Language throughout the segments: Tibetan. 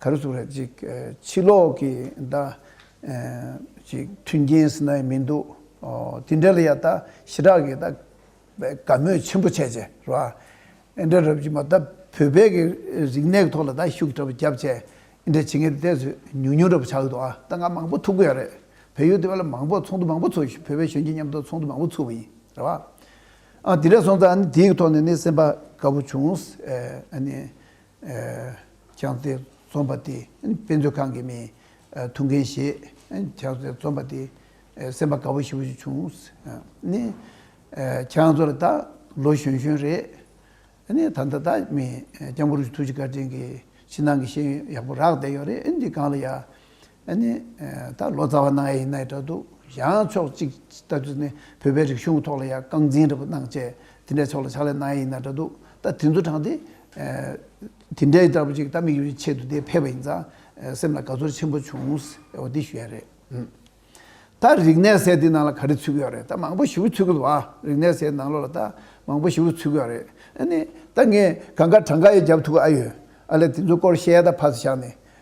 ག་རེ་ཟུག་རེད་ཅིག་ཕྱི་ལོག་གི་ཟླ་ཅིག་མཐུན་རྐྱེན་ཟེར་ན་ཡང་མི་འདུག་ཨོ་དེ་འདྲ་ལ་ཡང་ད་ཞི་དྲག་གིས་ད་དགའ་མོས་ཆེན་པོ་བྱས་ཅེས་རེད་པ། ཨེ་འདྲ་རབས་ཀྱིས་མ་ད་བོད་པའི་གི་རིག་གནས་ཀྱི་ཐོག་ལ་ད་ཤུགས་དྲག་པོ་བརྒྱབ་ཅེས་ཨེ་འདྲ་བྱེད་ངེས་དེ་ཚོས་ཉུང་ཉུང་དྲག་པོ་བྱ་གི་འདུག་ཨ་ད་ང་མང་པོ་ཐུག་གི་ཡོད་རེད་བལ་ཡུལ་དེ་བ་ལ་མང་པོ་ཚོགས་འདུ་མང་པོ་ཚོགས་ཤིང་བོད་པའི་གཞོན་སྐྱེས་མཉམ་དུ་ཚོགས་འདུ་མང་པོ་ཚུགས་པ་ཡིན་རེད་པ། ཨ་དེ་འདྲ་སོང་ཙང་ཨ་ནི་དེའི་ཐོག་ནས་ནི་སེམས་པ་དགའ་པོ་བྱུང་ཨ་ནི་ཁྱང་བརྩེགས་རྩོམ་པ་དེ་དཔེ་མཛོད་ཁང་གི་མིས་ཐུགས་འགན་བཞེས། ཁྱང་བརྩེགས་རྩོམ་པ་དེ་སེམས་པ་དགའ་བོ་ཞིག་བྱུང། ཁྱང་བརྩེགས་ལ་ད་ལོ་གཞོན་གཞོན་རེད། ད་ལྟ་ད་མི་སྐྱབས་འགྲོ་ཆུ་ཐུགས་རྗེ་སྐར་ཆེན་གྱི་ཕྱི་ནང་གི་ཤེས་ཡོན་ཡག་པོ་རག་བསྡད་ཡོད་རེད། འདི་གང་ལ་ཡ། ཨ་ནི། ད་ལོ་ཙཱ་བ་གནང་ཡས་ཡིན་ནའི་འདྲ་འདུག་གཞའང་ཕྱོགས་གཅིག་ལྟ་དུས་ནི་བོད་པའི་རིག་གཞུང་ཐོག་ལ་ཡང་རྐང་འཛིན་འདྲ་པོ་གནང་བཅས་དེ་འདྲའི་ཕྱོགས་ལ་ཕྱག་ལས་གནང་ཡས་ཡིན་ནའི་འདྲ་འདུག་ད་དེ་ཚོ་དྲངས་ཏེ། དེ་འདྲའི་ལྟ་བུ་ཅིག་ད་མིག་ཡོད་ཆེད་དུ་དེ་ཕེབས་པ་ཡིན་ཙང་སེམས་ལ་དགའ་ཚོར་ཆེན་པོ་བྱུང། འོ་དེ་ཞུ་ཡ་རེད། ད་རིག་གནས་སའི་དེ་ནང་ལ་ག་རེ་ཚུད་ཀྱི་ཡོད་རེད་ད་མང་པོ་ཞུ་གི་ཚུད་ཀྱི་འདུག་ཨ་རིག་གནས་སའི་ནང་ལོགས་ལ་ད་མང་པོ་ཞུ་གི་ཚུད་ཀྱི་ཡོད་རེད་ཨ་ནི། ད་ངས་གང་དགའ་གྲངས་དགའ་ཡས་རྒྱབ་ཐུག་གི་ཨ་ཡོད་ཨ་ལས་དེ་ཚོའི་སྐོར་བཤད་ཡ་ད་ཕ་ས་ཞག་ནས་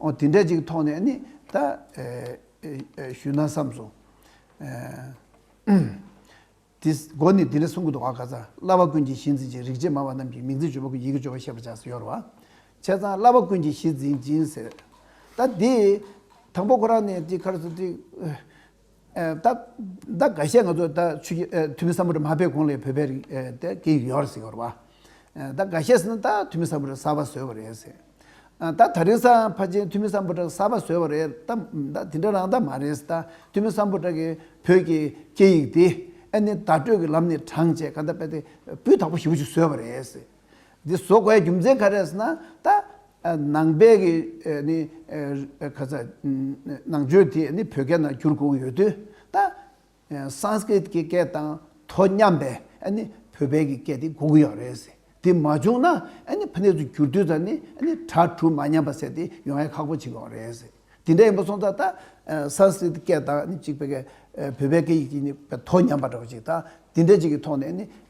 ཨོ་དེ་འདྲ་ཅིག་མཐོང་ནས་ནི་ད་ཞུས་ན་བསམས་སོ། དེ་སྒོ་ནས་དེ་འདྲ་གསུང་གི་འདུག་ཨ་ག་ཚང་བླ་བ་ཀུན་གྱི་གཞི་འཛིན་ཅིང་རིག་བྱེད་སྨྲ་བ་རྣམས་ཀྱི་མིང་ཚིག་བརྗོད་པ་ཀུན་ཡི་གེ་བརྗོད་པར་ཤེས་པར་བྱ་ཡོར་བ། བྱས་ཙང་བླ་བ་ཀུན་གྱི་གཞི་འཛིན་ཅིང་ཟེར། ད་དེ་དང་པོ་ཁོ་རང་ནས་དེ་ཁར་སོ་དེ་ད་ག་ཤེད་ང་ཚོ་ད་ཆུ་ཁྱི་ཐུ་མི་ས་མུ་རི་མ་བེད་གོང་ལེ་བོད་པའི་རིགས་དེ་སྐད་ཡིག་ཡོད་རེད་ཟེར་གི་རེད་བ། ད་ག་ཤེད་ཟེར་ན་ད་ཐུ་མི་ས་མུ་རི་གསར་པ་བཟོས་པ་རེད་ཟེར། ད་ད་རིང་ས་ཕ་ཆེན་ཐུ་མི་ས་མུ་དྲག་གསར་པ་བཟོས་པ་རེད་ད་དེ་འདྲ་རང་ད་མ་རེད་ཟེར་ད་ཐུ་མི་ས་མུ་དྲག་གི་བོད་ཀྱི་སྐད་ཡིག་དེ་ཨ་ནི་བརྡ་སྤྲོད་ཀྱི་ལམ་ནས་དྲངས་བྱས་ག་ད་པེ་ཏེ་སྤུས་དག་པོ་ཞིབ་པོ་ཞིག་བཟོས་པ་རེད་ཟེར། འདི་བཟོ་དགོས་རྒྱུ་མཚན་ག་རེད་ཟེར་ན་ད་ནང་པའི་གི་ནི་ག་ས་ནང་ཆོས་དེ་ནི་བོད་སྐད་ནང་བསྒྱུར་དགོས་ཡོད་དུས་ད Sanskrit གི་སྐད་དང་དོ་མཉམ་པའི་ཨ་ནི་བོད་པའི་གི་སྐད་དེ་དགོས་ཀྱི་ཡོད་རེད་ཟེར་དེ་མ་བྱུང་ན་ཨ་ནི་ཕ་ནས་ཚུ་བསྒྱུར་དུས་ད་ནི་ཨ་ནི་གྲ་གྲུ་མ་མཉམ་པ་ཟེར་དེ་ཡོང་ཡ་ཁག་པོ་ཆི་ཡོང་རེད་ཟེར་དེ་འདྲ་ཡིན་པ་སོང་ད་ད Sanskrit སྐད་དང་ནི་གཅིག་པའི་གི་བོད་པའི་གི་ཡིག་གི་ནི་དོ་མཉམ་པ་འདྲ་བ་ཅིག་ད་དེ་འདྲ་ཅིག་གི་ཐོག་ནས་ནི་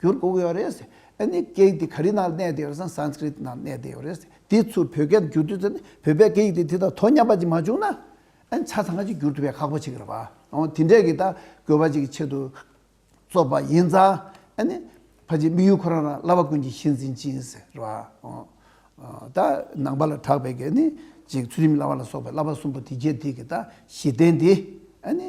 གྱུར་བསྒུགས་ཡོད་རེད། ཨེ་ནི་སྐད་དེ་ག་རི་ནང་གནས་བསྡད་ཡོད་སམ Sanskrit ནང་གནས་བསྡད་ཡོད་རེད། དེའི་ཚུལ་བོད་སྐད་དུ་བསྒྱུར་དུས་ཚོད་ནི་བོད་པའི་སྐད་ཡིག་དེ་དེ་དང་དོ་མཉམ་པ་ཅིག་མ་བྱུང་ན། ཨེ་ནི་ཆ་ཚང་གཅིག་བསྒྱུར་ཐུབ་པའི་ཁག་པོ་ཅིག་རེད་པ། འོང་དེ་འདྲས་ཀྱི་ད་དགོས་པ་ཅིག་གི་ཆེད་དུ་རྩོད་པ་ཡིན་ཙང། ཨེ་ནི་ཕ་ཅིག་དམིགས་ཡུལ་ཁོ་རང་རང་བླ་བ་ཀུན་གྱི་གཞི་འཛིན་ཅིག་ཡིན་ཟེར་རེད་པ། འོང། ད་ནང་པ་ལ་གྲགས་པའི་གེ་ནི་ཅིག་ཚུལ་ཁྲིམས་བླ་བ་ལ་སོགས་པའི་བླ་བ་གསུམ་པོ་དེ་རྒྱལ་དེ་གི་ད་གཞི་རྟེན་དེ། ཨེ་ནི།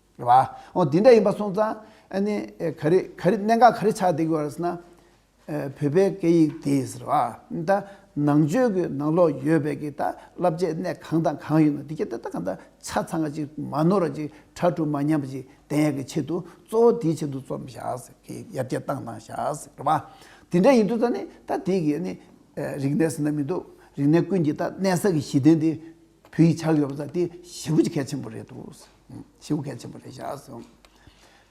རེད་བ། ཨོ་དེ་འདྲ་ཡིན་པ་སོང་ཙང་ཨ་ནི་ག་རེ་ག་རེ་གནད་འགག་ག་རེ་ཆགས་བསྡད་གི་བ་རེད་ཟེར་ན། བོད་པའི་སྐད་ཡིག་དེ་ཟེར་བ། ད་ནང་ཆོས་ཀྱི་ནང་ལོགས་ཡོད་པའི་གི་ད་བསླབ་བྱའི་གནད་གང་དང་གང་ཡོད་ན་དེ་ག་དེ་ད་ག་ད་ཆ་ཚང་ག་ཅིག་མ་ནོར་བ་ཅིག་ཁྲ་ཁྲུ་མ་ཉམས་པ་ཅིག་བསྟན་ཡག་གི་ཆེད་དུ་གཙོ་བོ་དེའི་ཆེད་དུ་རྩོམ་བཞག་ཟེར་གི་ཡར་རྒྱས་བཏང་བཏང་བཞག་ཟེར་རེད་བ། དེ་འདྲ་ཡིན་དུས་ད་ནི་ད་དེ་གི་ཨ་ནི་རིག་གནས་ཟེར་ན་མི་འདུག་རིག་གནས་ཀུན་གྱི་ད་གནད་ས་གི་གཞི་རྟེན་དེ། བུ་ཡིས་ཆ་ཡོད་པ་ཟ་དེ་ཞེ་བུ་ཀྱི་གལ་ཆེན་པོ་རེད་དོ། ཞེ་བུ་གལ་ཆེན་པོ་རེད་བཞག་ཟེར།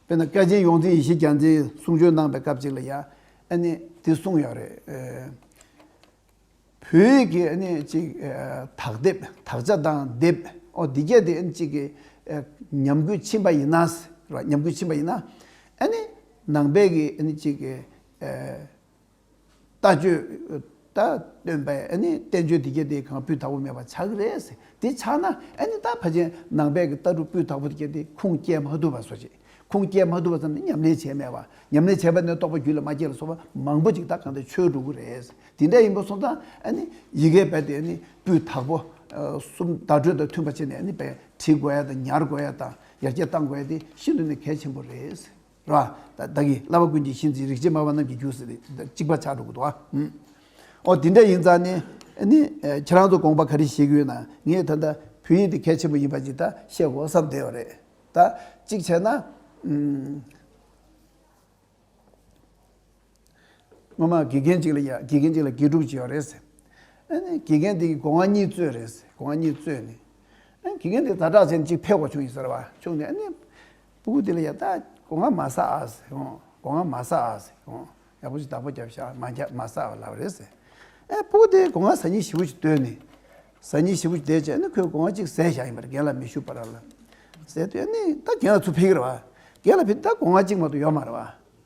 དཔེར་ན་སྐལ་ཆེན་ཡོངས་འཛིན་ཡེ་ཤེས་རྒྱ་མཚན་གསུང་ཆོས་གནང་པའི་སྐབས་ཅིག་ལ་ཡང་ཨ་ནི་དེ་གསུངས་ཡོད་རེད། བོད་ཡིག་གི་ཨ་ནི་ཅིག་དག་སྡེབ་དག་ཆ་དང་སྡེབ་འོ་འདི་བརྒྱད་དེ་ཨ་ནི་ཅིག་གི་ཉམས་རྒུད་ཕྱིན་པ་ཡིན་ན་ཟེར། ཉམས་རྒུད་ཕྱིན་པ་ཡིན་ན་ཨ་ནི་ནང་པའི་གི་ཨ་ནི་ཅིག་གི། ལྟ་སྤྱོད། ལྟ་སྟོན་པས་ཨ་ནི་བསྟན་བཅོས་འདི་སྐད་དེ་གང་སྤུས་དག་པོ་མེད་པ་ཆགས་ཀྱི་རེད་ཟེར་དེ་ཆགས་ན་ཨ་ནི་ད་ཕ་ཆེན་ནང་པའི་གི་ལྟ་གྲུབ་སྤུས་དག་པོ་དེ་སྐད་དེ་ཁུངས་སྐྱེལ་མ་ཐུབ་པ་བཟོ་བྱེད་ཁུངས་སྐྱེལ་མ་ཐུབ་པ་ཙམ་ནི་ཉམས་ལེན་བྱས་མེད་པ་ཉམས་ལེན་བྱས་པ་ནི་རྟོགས་པ་རྒྱུད་ལ་མ་སྐྱེས་ལ་སོགས་པ་མང་པོ་ཅིག་ད་གང་འདྲ་ཆོས་སྒྲུབ་ཀྱི་རེད་ཟེར་དེ་འདྲ་ཡིན་པ་སོང་ཙང་ཨ་ནི་ཡི་གེ་བེད་དེ་ཨ་ནི་སྤུས་དག་པོ་གསུམ་བརྡ་སྤྲོད་དང་མཐུན་པ་བྱས་ནས་ཨ་ནི་བེད་བྲིས་དགོས་ཡ་དང་ཉར་དགོས་ཡ་དང་ཡར་རྒྱས་གཏང་དགོས་ཡ་དེ་ཤིན་ཏུ་ནས་གལ་ཆེན་པོ་རེད་ཟེར། ར། བདག་གིས་བསླབ་པ་ཀུན་གྱི་གཞི་འཛིན་རིག་བྱེད་སྨྲ་བ་རྣམས་ཀྱི་རྒྱུ་ཟེར་ཏེ་གཅིག་པ་ཕྱག་དྲུག་གི་དུ་བ། ཨོ་དེ་འདྲ་ཡིན་ཙང་ནི། ཁྱེད་རང་ཚོ་དགོངས་པ་ག་རེ་བཞེས་གི་ཡོད་ན་ངས་ད་ལྟ་བོད་ཡིག་འདི་གལ་ཆེན་པོ་ཡིན་པ་ཞིག་ད་བཤད་དགོ་བསམ་བསྡད་པ་རེད་ད། གཅིག་བྱས་ན། སྔོན་མ་དགེ་རྒན་གཅིག་ལ་ཡ་དགེ་རྒན་གཅིག་ལ་དགེ་སྒྲུབ་བྱས་པ་རེད། ཨ་ནི་དགེ་རྒན་དེའི་སྒོ་ང་གཉིས་བཙོས་རེད། སྒོ་ང་གཉིས་བཙོས་ནས། ཨ་ནི་དགེ་རྒན་དེ་ད་དྲག་ཟེར་ནས་གཅིག་ཕེབས་ཁོག་བྱུང་ཡིན་ཟེར་བ། བྱུང་ནས་ཨ་ནི། སྤུ་གུ་དེ་ལ་ཡ་ད་སྒོ་ང་མ་ཟ་ཨ་ཟེར། སྒོ་ང་མ་ཟ་ཨ་ཟེར། ཡག་པོ་ཞིག་བདག་པོ་བརྒྱབ་ཤག་མ་བརྒྱབ་མ་ཟ་བ་ལབ་རེད་ཟེར། ཨ་སྤུ་གུ་དེ་སྒོ་ང་ཟ་གཉིས་ཞི་བོ་ཞིག་བསྟོད་ནས། ཟ་གཉིས་ཞི་བོ་ཞིག་བསྡད་རྗེས་ཨ་ནི་ཁོས་སྒོ་ང་གཅིག་ཟས་ཤག་ཡིན་པ་རེད་རྒན་ལ་མི་ཞུ་བར་ལབ། ཟས་དེ་ཨ་ནི་ད་རྒན་ལ་ཚུར་ཕེབས་ཀྱི་རེད་བ། རྒན་ལ་ཕེབས་དུས་ད་སྒོ་ང་གཅིག་མ་གཏོགས་ཡོད་མ་རེད་བ།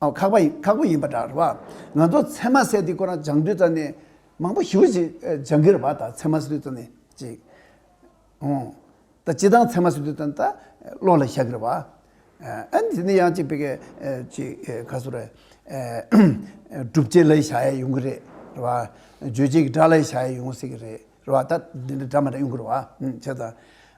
ཨོ་ཁག་པ་ཁག་པོ་ཡིན་པ་འདྲ་བ། ང་ཚོ་ཚད་མ་གསལ་ཐིག་སྐོར་རང་སྦྱང་དུས་རྩ་ནས་མང་པོ་ཞུ་ཅིག་སྦྱང་གིར་བ་ད་ཚད་མ་གསལ་དུས་རྩ་ནས་ཅིག་ཨོ། ད་སྤྱི་དང་ཚད་མ་གསལ་དུས་རྩ་ནས་ད་བློ་ལ་ཤ་གིར་བ། ཨེ་འདི་ནི་ཡང་ཅིག་པེ་ཀེ་ཅིག་ག་སུ་རེ། སྒྲུབ་བྱེད་ལ་ཤ་ཡ་ཡོང་གི་རེད་བ། བརྗོད་བྱེད་ཀྱི་སྒྲ་ལ་ཤ་ཡ་ཡོང་སྲིད་ཀྱི་རེད་བ་ད་འདི་འདྲ་སྒྲ་མ་འདྲ་ཡོང་གིར་བ། བྱས་ཙང་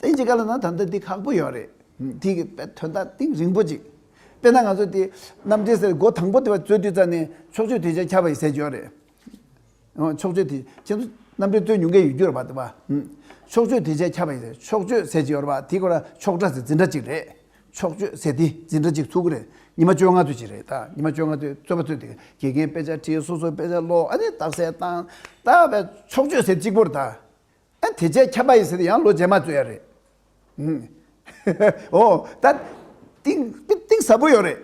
དེ་འཇིག་ག་ལ་ན་ད་ལྟ་འདི་ཁག་པོ་ཡོད་རེད། དེ་གི་དཔེ་དོན་དག་ཏིང་རིང་པོ་ཅིག། དཔེར་ན་ང་ཚོ་དེ་རྣམ་འགྲེལ་ཟེར་སྒོ་དང་པོ་དེ་བ་རྩོད་དུས་རྩ་ནས་ཕྱོགས་ཆོས་དེ་ཆ་ཁྱབ་པ་ཡི་ཟེར་གྱི་ཡོད་རེད། ཨོ་ཕྱོགས་ཆོས་དེ་ཁྱེད་ཚོ་རྣམ་འགྲེལ་རྩོད་ཉུང་གི་ཡོད་རྒྱུ་རེད་པ་དེ་བ། ཕྱོགས་ཆོས་དེ་ཆ་ཁྱབ་པ་ཡི་ཟེར་ཕྱོགས་ཆོས་ཟེར་གྱི་ཡོད་རེད་པ་དེ་སྐོར་ལ་ཕྱོགས་སྒྲ་ཟེར་འཛིན་སྒྲ་ཅིག་རེད། ཕྱོགས་ཆོས་ཟེར་དེ་འཛིན་སྒྲ་ཅིག་ཚུགས་ཀི་རེད། ཉི་མ་བཅོ་ལྔ་ཚོད་ཅིག་རེད་ད་ཉི་མ་བཅོ་ལྔ་ཚོད་རྩོད་པ་ཚོས་དེ་དགེ་རྒན་དཔེ་ཆ་བྲིས་སོ་སོ་དཔེ་ཆ་ཀློག་ཨ་ནི་རྟགས་གསལ་བཏང། ད་བས་ཕྱོགས་ཆོས་ཟེར་གཅིག་པོར་ད། ཨ་དེ་རྗེས་ཁྱབ་པ་ཡིན་ཟེར་ཏེ་ཡང་ལོ་རྗེས་མ་རྩོད་ཡ་རེད། འོ། ད། གཏིང་གཏིང་ཟབ་པོ་ཡོད་རེད།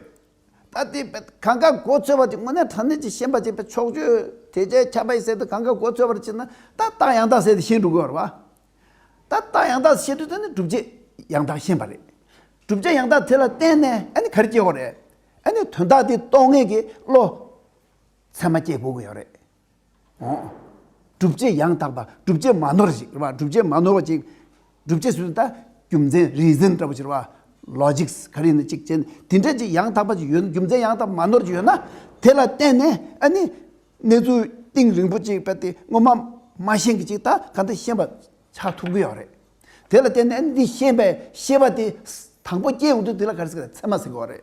ད་དེ། གང་གཱ་མགོ་ཚོས་པ་དེ་དངོས་གནས་དྲང་གནས་ཀྱི་ཤེས་པ་ཅིག་པས་ཆོག་ཆོས་དེ་རྗེས་ཁྱབ་པ་ཡིན་ཟེར་ཏེ་གང་གཱ་མགོ་ཚོས་པར་བྱེད་ན་ད་རྟགས་ཡང་དག་ཟེར་ཏེ་ཤེས་འགྲོ་དགོས་རེད་པ། ད་རྟགས་ཡང་དག་ཤེས་འདོད་དོན་ནི་བསྒྲུབ་བྱའི་ཡང་དག་ཤེས་པ་རེད། བསྒྲུབ་བྱ་ཡང་དག་དེ་ལ་བརྟེན་ནས་ཨ་ནི་གར་སྐྱེ་བོ་རེད། ཨ་ནི་དོན་དག་དེ་རྟོགས་ངེས་ཀྱི་བློ། ཚད་མ་སྐྱེས་དགོས་ཀྱི་ཡོད་རེད། སྒྲུབ་བྱེད་ཡང་དག་པ་སྒྲུབ་བྱེད་མ་ནོར་ཞིག་སྒྲུབ་བྱེད་མ་ནོར་བ་ཅིག་སྒྲུབ་བྱེད་ཟུར་ཟླ་རྒྱུ་མཚན reason འདྲ་པོ་ཆེར་བ logic ག་རེ་ནི་གཅིག་ཅན་དེ་འདྲ་ཅིག་ཡང་དག་པ་ཅིག་ཡོད་ན་རྒྱུ་མཚན་ཡང་དག་པ་མ་ནོར་ཅིག་ཡོད་ན་དེ་ལ་བརྟེན་ནས་ཨ་ནི་གནས་ཚུལ་གཏིང་རིང་པོ་ཅིག་པ་དེ་སྔོན་མ་མ་ཤེས་གི་ཅིག་ད་ག་འདི་ཤེས་པ་ཆགས་ཐུབ་ཀི་ཡོད་རེད། དེ་ལ་བརྟེན་ནས་ཨ་ནི་འདི་ཤེས་པའི་ཤེས་པ་དེ་དང་པོ་སྐྱེས་ཡོང་དུས་དེ་ལ་ག་རེ་ཟེར་གི་ཚད་མ་ཟེར་གི་བ་རེད།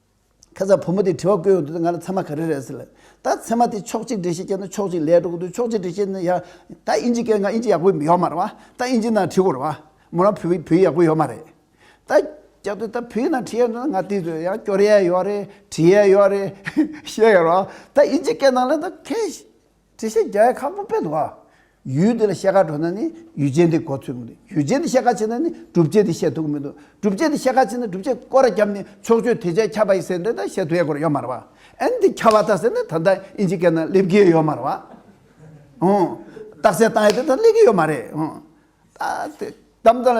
ཁ་སང་བུ་མོ་དེས་དྲི་བ་བཀོད་ཡོང་དུས་ང་ལ་མཚན་མ་ག་རེ་རེད་ཟེར། ད་མཚན་མ་དེ་ཕྱོགས་གཅིག་འགྲེལ་བཤད་བྱས་ན་ཕྱོགས་གཅིག་ལས་འགྲོ་གི་འདུག་ཕྱོགས་གཅིག་འགྲེལ་བཤད་ན་ཡ། ད་དབྱིན་ཇི་སྐད་ང་དབྱིན་ཇི་ཡག་པོ་ཡོད་མ་རེད་བ། ད་དབྱིན་ཇི་ནང་བྲིས་དགོས་རེད་བ། མོ་རང་བོད་བོད་ཡིག་ཡག་པོ་ཡོད་མ་རེད། ད། སྐྱར་ཟློས་ད་བོད་ཡིག་ནང་བྲིས་ཡས་འགྲོ་ན་ང་དེ་ཚོ་ཡང་སྐྱོར་ཡས་ཡོད་རེད་བྲིས་ཡས་ཡོད་རེད། བཤད་ཡས་རེད་བ། ད་དབྱིན་ཇི་སྐད་ནང་ལ་ད་ཁས། དྲི་ཞིག་རྒྱ་ཡི་ཁག་པོ་དཔེ་དོག་ཨ། ཡུལ་འདི་ལ་བཤད་ཁ་འགྲོ་ན་ནི་ཡུལ་ཅན་དེ་གོ་ཐོས་མི་འདུག་ཡུལ་ཅན་དེ་བཤད་ཁ་ཆེ་ན་ནི་གྲུབ་བྱེད་དེ་བཤད་ཐུག་གི་མི་འདུག་གྲུབ་བྱེད་དེ་བཤད་ཁ་ཆེ་ན་གྲུབ་བྱེད་སྐོར་ར་རྒྱབ་ནས་ཕྱོགས་ཆོས་དེ་བྱས་ཁྱབ་པ་ཡི་སེ་འབྲས་དང་བཤད་ཐུག་ཡས་སྐོར་ཡོད་མ་ར་བ། ཨན་དེ་ཁྱབ་བ་ད་ཟེར་ནས་ད་ལྟ་ཨིན་ཇི་སྐད་ན་སླེབས་ཀྱི་ཡོད་མ་ར་བ། ཨོ། རྟགས་གསལ་བཏང་ཡས་དེ་ད་སླེབས་ཀྱི་ཡོད་མ་རེད་ཨོ། ད་དེ་གཏམ་ད་ལ་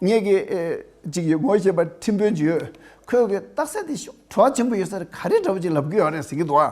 ངེད་ཀྱི་ཅིག་ཡོད་ངོ་ཤེས་པ་ཁྲིམས་དཔོན་ཅིག་ཡོད་ཁོས་གི་རྟགས་གསལ་དེ་ཤོག་ཁྲོ་བ་ཆེན་པོ་ཡོད་ས་རེ་ག་རེ་འདྲ་བོ་ཅིག་ལབ་ཀྱི་ཡོད་རེད་ཟེར་གྱི་འདུག་ཨ།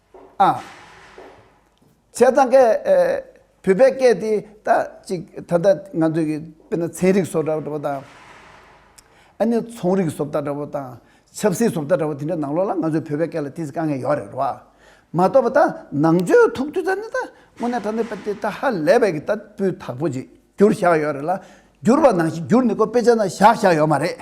ཨ། བྱས་ཙང་སྐད། བོད་པའི་སྐད་དེ་ད་ཅིག་ད་ལྟ་ང་ཚོས་ཀྱི་དཔེར་ན་ཚན་རིག་སོགས་འདྲ་པོ་དང། ཨ་ནི་ཚོང་རིག་སོབ་ལྟ་འདྲ་པོ་དང། ཆབ་སྲིད་སོབ་ལྟ་འདྲ་པོ་དེ་འདྲའི་ནང་ལོགས་ལ་ང་ཚོས་བོད་པའི་སྐད་ལ་དེ་ཚིག་དཀའ་ངལ་ཡོད་རེད་རོ། མ་གཏོགས་པ་ད་ནང་ཆོས་ཐུགས་རྒྱུད་ད་ནི་ད་དངོས་གནས་ད་ནི་པ་དེ་ད་ཧ་ལས་པའི་གི་ད་སྤུས་དག་པོ་ཅིག་འགྱུར་བཞག་ཡོད་རེད་ལ། འགྱུར་བ་ནང་བཞིན་འགྱུར་ནི་ཀོ་དཔེ་ཆ་ན་བཞག་བཞག་ཡོད་མ་རེད།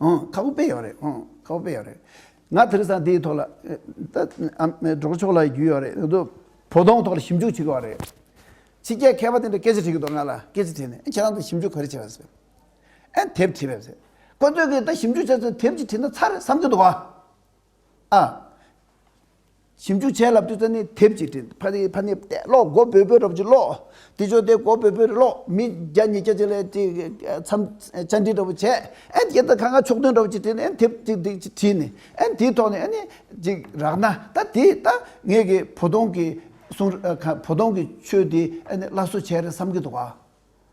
ཨང། ཁ་བོ་དཔེ་ཡོད་རེད། ཨང། ཁ་བོ་དཔེ་ཡོད་རེད། ང་དེར་སང་དེའི་ཐོག་ལ། སྒྲོག་ཆོག་ལ་རྒྱུས་ཡོད་རེད། བོ་དོང་ཐོག་ལ་ཞིབ་འཇུག་བྱེད་དགོས་བ་རེད། ཕྱི་རྒྱལ་མཁས་པ་དེ་འདྲ་སྐད་ཆ་དྲིས་ཀྱི་འདུག་ང་ལ་སྐད་ཆ་དྲིས་ནས་ཁྱེད་རང་ད་ཞིབ་འཇུག་ག་རེ་བྱས་བ་ཟེར། ཨེ་དེབ་བྲིས་བས་ཟེར། ཁོ་ཚོས་ཀྱིས་ད་ཞིབ་འཇུག་བྱས་ཚོད་དེབ་ཅིག་བྲིས་ན་ཚར་རེད་བསམ་གྱི་འདུག་བ། ཨ། ཞིབ་འཇུག་བྱས་ལབ་དུས་རྩ་ནད་དེབ་ཅིག་བྲིས། ཕ་ནི་ཕ་ནི་བལྟས་ཀློག་མགོ་བོས་བོས་རབ་ཀྱིས་ཀློག། དེ་ཅོག་དེ་མགོ་བོས་བོས་རེ་ཀློག་མི་བརྒྱ་ཉིས་བརྒྱ་བྱས་ལ་ཅི་འཚམས་བཅར་འདྲི་འདྲ་པོ་བྱས། ཨན་དེ་ལྟར་གང་གང་ཕྱོགས་སྟོན་འདྲ་པོ་ཅིག་བྲིས་ནས་ཨན་དེབ་ཅིག་འདི་ཅིག་བྲིས་ནས་ཨན་དེའི་ཐོག་ནས་ཨན་ནི་ཅིག་རག་ན་ད་དེ་ད་ངེད་ཀྱི་བོ་དོང་གི་གསུང་བོ་དོང་གི་ཆོས་འདི་ཨན་ནི་སླར་གསོ་བྱས་རེ་བསམ་གྱི་འདུག་ག།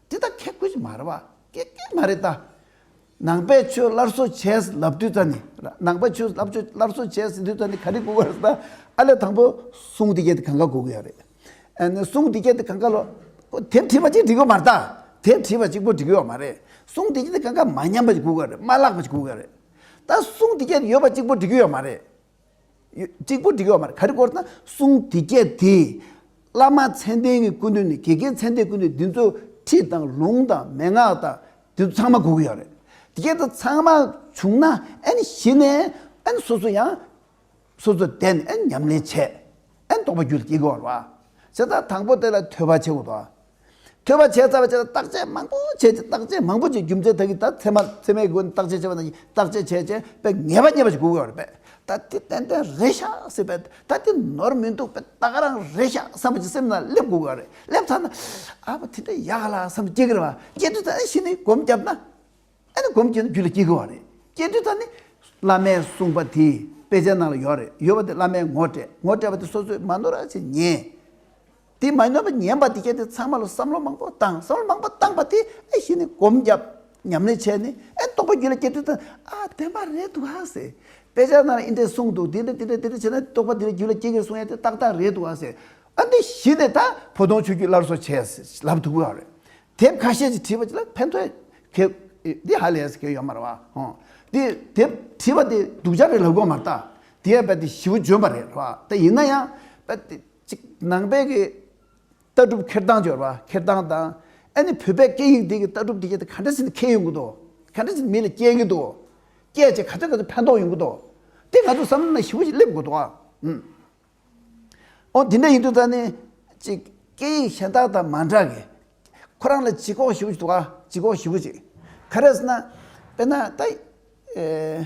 འདི་ལྟར་ཁྱད་བཀོད་ཅིག་མ་རེད་པ་སྐད་སྐད་མ་རེད་ད། ནང་པའི་ཆོས་སླར་གསོ་བྱས་ལབ་དུས་ད་ནི་ནང་པའི་ཆོས་སླར་གསོ་བྱས་ཟིན་དུས་ད་ནི་ག་རེ་གོ་དགོས་རེད་ད། ཨ་ལས་དང་པོ་གསུང་འདི་སྐད་དེ་གང་ག་གོ་དགོས་ཡ་རེད། ཨ་ནི་གསུང་འདི་སྐད་དེ་གང་ག་ལོ། དེབ་བྲིས་པ་ཅིག་འབྲི་དགོས་མ་རེད་ད། དེབ་བྲིས་པ་ཅིག་པོ་འབྲི་དགོས་ཡ་མ་རེད། གསུང་འདི་སྐད་དེ་གང་ག་མ་ཉམས་པ་ཅིག་གོ་དགོས་ཡ་རེད་མ་བཀླགས་པ་ཅིག་གོ་དགོས་ཡ་རེད། ད་གསུང་འདི་སྐད་དེ་ཡོད་པ་ཅིག་པོ་འབྲི་དགོས་ཡ་མ་རེད། གཅིག་པུ་འདི་སྐད་བ་མར་ག་རི་བསྐོར་ན་གསུང་འདི་སྐད་དེ། བླ་མ་མཚན་ལྡན་གྱི་སྐུ་མདུན་ནི་དགེ་རྒན་མཚན་ལྡན་སྐུ་མདུན་འདི་ཚོ་ཁྲིད་དང་ལུང་དང་མན་ངག་དང་འདི་ཚོ་ཚང་མ་གོ་གི་ཡོད་རེད། དེ་སྐད་དུ་ཚང་མ་བྱུང་ན་ཨེ་ནི་གཞི་ནས་ཨེ་ནི་སོ་སོ་ཡང་སོ་སོ་བདེན་ཨེ་ནི་ཉམས་ལེན་བྱེད་ཨེ་ནི་རྟོགས་པ་རྒྱུད་ལ་སྐྱེ་དགོས་པར་བ། བྱས་ཙང་དང་པོ་དེ་ལ་ཐོས་པ་བྱེད་དགོས་པར་བ། ཐོས་པ་བྱས་རྩ་བ་བྱས་ལ་བརྟག་དཔྱད་མང་པོ་བྱས་རྗེས་བརྟག་དཔྱད་མང་པོ་བྱས་རྒྱུ་མཚན་ད་གིན་ད་ཚད་མ་ཚད་མའི་སྒོ་ནས་བརྟག་དཔྱད་བྱས་པ་ན་བརྟག་དཔྱད་བྱས་རྗེས་དཔེ་ངེས་པ་རྙེད་པ་ཞིག་གོ་དགོས་པ་རེད་པས་ད་དེ་ཏན་ཏན་རེད་ཤག་སྲིད་པས་ད་དེ་ནོར་མི་འདུག་པས་ད་ག་རང་རེད་ཤག་བསམ་པ་ཅིག་སེམས་ན་སླེབས་དགོས་ག་རེད་སླེབས་ཚར་ན་ཨ་ཕ་དེ་འདྲ་ཡག་ག་ལ་བསམ་སྐྱེ་དགོས་རེད་བ་སྐྱེ་དུས་ད་ནི་ཤི་ནས་སྒོམ་བརྒྱབ་ན་ཨ་ནི་སྒོམ་སྐྱེ་ན་རྒྱུད་ལ་སྐྱེ་དགོས་བ་རེད་སྐྱེ་དུས་ད་ནི་བླ་མས་གསུངས་པ་དེ་དཔེ་ཆའི་ནང་ལ་ཡོད་རེད་ཡོད་བ་དེ་བླ་མས་ངོ་སྤྲད་ངོ་སྤྲད་པ་དེ་སོ་སོས་མ་ནོར་ར་ཅིག་ཉན། དེ་མ་ནོར་བར་ཉན་པ་དེ་གལ་ཏེ་ཚང་མ་ལ་བསམ་བློ་མང་པོ་བཏང་བསམ་བློ་མང་པོ་བཏང་པ་དེ་ཨེ་ཤེས་ནས་སྒོམ་བརྒྱབ་ཉམས་ལེན་བྱས་ནས་ཨེ་རྟོགས་པ་རྒྱུད་ལ་སྐྱེ་དུས་དང་ཨ་བདེན་པ་རེད་འདུག་ཨ་ཟེར། དཔེ་ཆ་ནང་ལ་ཨི་འདྲས་གསུངས་འདུག་དེ་འདྲས་དེ་འདྲས་དེ་འདྲས་བྱས་ན་རྟོགས་པ་དེ་རྒྱུད་ལ་སྐྱེ་གི་གསུངས་ཡ་དེ་ཏག་ཏག་རེད་འདུག་ཨ་ཟེར། ཨ་འདི་གཞི་ནས་ད་བོ་ལྡོང་ཆོས་བརྒྱུད་སླར་གསོ་བྱས་ལབ་འདུག་ཨ་རེད། དེབ་ཁ་ཤས་ཅིག་བྲིས་པ་ཅིག་ལ་ཕན་ཐོགས་གལ་འདི་ཧ་ལས་གལ་ཡོད་མ་རེད་བ་ཧོ། དེ་དེབ་བྲིས་པ་དེ་སྡུག་ཅག་རེད་ལབ་དགོས་མ་རེད་ད། དེ་ཡང་རྦད་དེ་ཞི་བོ་འཇོན་པ་རེད་བ་ད་ཡིན་ན་ཡང་རྦད་དེ་གཅིག་ནང་པའི་གི་ལྟ་གྲུབ་འཁྱེར་སྟངས་སྦྱོར་བ་འཁྱེར་སྟངས་དང་ཨ་ནི་བོད་པའི་སྐད་ཡིག་འདི་གི་ལྟ་གྲུབ་འདི་ག་ག་འདྲ་ཟིན་ནས་འཁེལ་ཡོང་གི་འདུག་ག་འདྲ་ཟིན་ནས་མི་ལ་སྐྱེལ་གི་འདུག་སྐྱེལ་བྱེད་ག་ཚོད་ག་ཚོད་ཕན་ཐོགས་ཡོང་གི་འདུག་དེ་ང་ཚོ་བསམ་བློ་ན་ཞིབ་པོ་ཞིག་སླེབས་དགོས་འདུག་ཨང། ཨོ་དེ་འདྲ་ཡིན་དུས་ད་ནི་གཅིག་སྐད་ཡིག་གཞན་དག་དང་མ་འདྲ་གི། ཁོ་རང་ལ་ལྗིད་ཁོག་ཞིབ་པོ་ཞིག་འདུག་ཨ་ལྗིད་ཁོག་ཞིབ་པོ་ཞིག་ག་རེ་ཟེར་ན་དཔེར་ན་ད་ཨེ།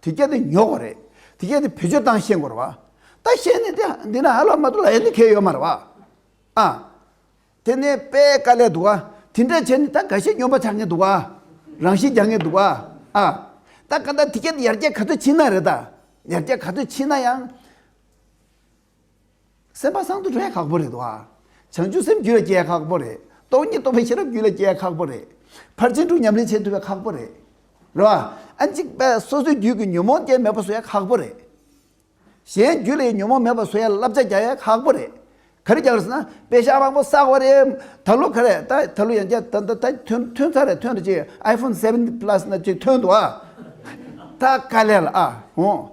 དེ་སྐད་དུ་ཉོག་གོ་རེད། དེ་སྐད་དུ་བེད་སྤྱོད་བཏང་ཤེས་གོ་རེད་བ། ད་ཤེས་ནས་དེ་འདི་ན་ཧ་ལ་མ་ཏུ་ལ་ཡ་ནི་ཁེ་ཡོད་མ་རེད་བ། ཨ། དེ་ནས་པས་དཀའ་ལས་འདུག་བ། དེ་འདྲ་བྱས་ནས་ད་འགའ་ཤས་སྨྱོན་པ་ཆགས་ངེས་འདུག་བ། རང་བཞིན་རྒྱག་ངེས་འདུག་བ། ཨ། ད་ག་ད་དེ་སྐད་དུ་ཡར་རྒྱས་ག་ཚོད་ཕྱིན་ན་རེད་ད། ཡར་རྒྱས་ག་ཚོད་ཕྱིན་ན་ཡང། སེམས་པ་སངས་དུ་འགྲོ་ཡ་ཁག་པོ་རེད་དོ། བྱང་ཆུབ་སེམས་རྒྱུད་ལ་སྐྱེ་ཡ་ཁག་པོ་རེད། སྟོང་ཉིད་རྟོགས་པའི་ཤེས་རབ་རྒྱུད་ལ་སྐྱེ་ཡ་ཁག་པོ་རེད། ཕར་ཕྱིན་དྲུག་ཉམས་ལེན་བྱེད་ཐུབ་ཡ་ཁག་པོ་རེད། རེད་བ། ཨ་འཇིགས་པས་སོ་སོའི་རྒྱུད་ཀྱི་ཉོན་མོངས་རྐྱེན་མེད་པར་བཟོ་ཡ་ཁག་པོ་རེད། གཞན་རྒྱུད་ལ་ཡི་ཉོན་མོངས་མེད་པར་བཟོ་ཡ་བསླབ་བྱ་རྒྱག་ཡ་ཁག་པོ་རེད། ག་རེ་རྒྱག་རེད་ཟེར་ན་དཔེ་ཞག་མང་པོ་བསགས་བ་རེད། ད་ལོ་ག་རེད་ད་ད་ལོ་ཡང་བསྐྱར་ད་ད་ད་ཐོན་ཐོན་ཚར་རེད་ཐོན་རེད་ཅིག iPhone seven plus ན་ཅིག་ཐོན་འདུག་ཨ། ད་ག་ལས་ལ་ཨ་འོང།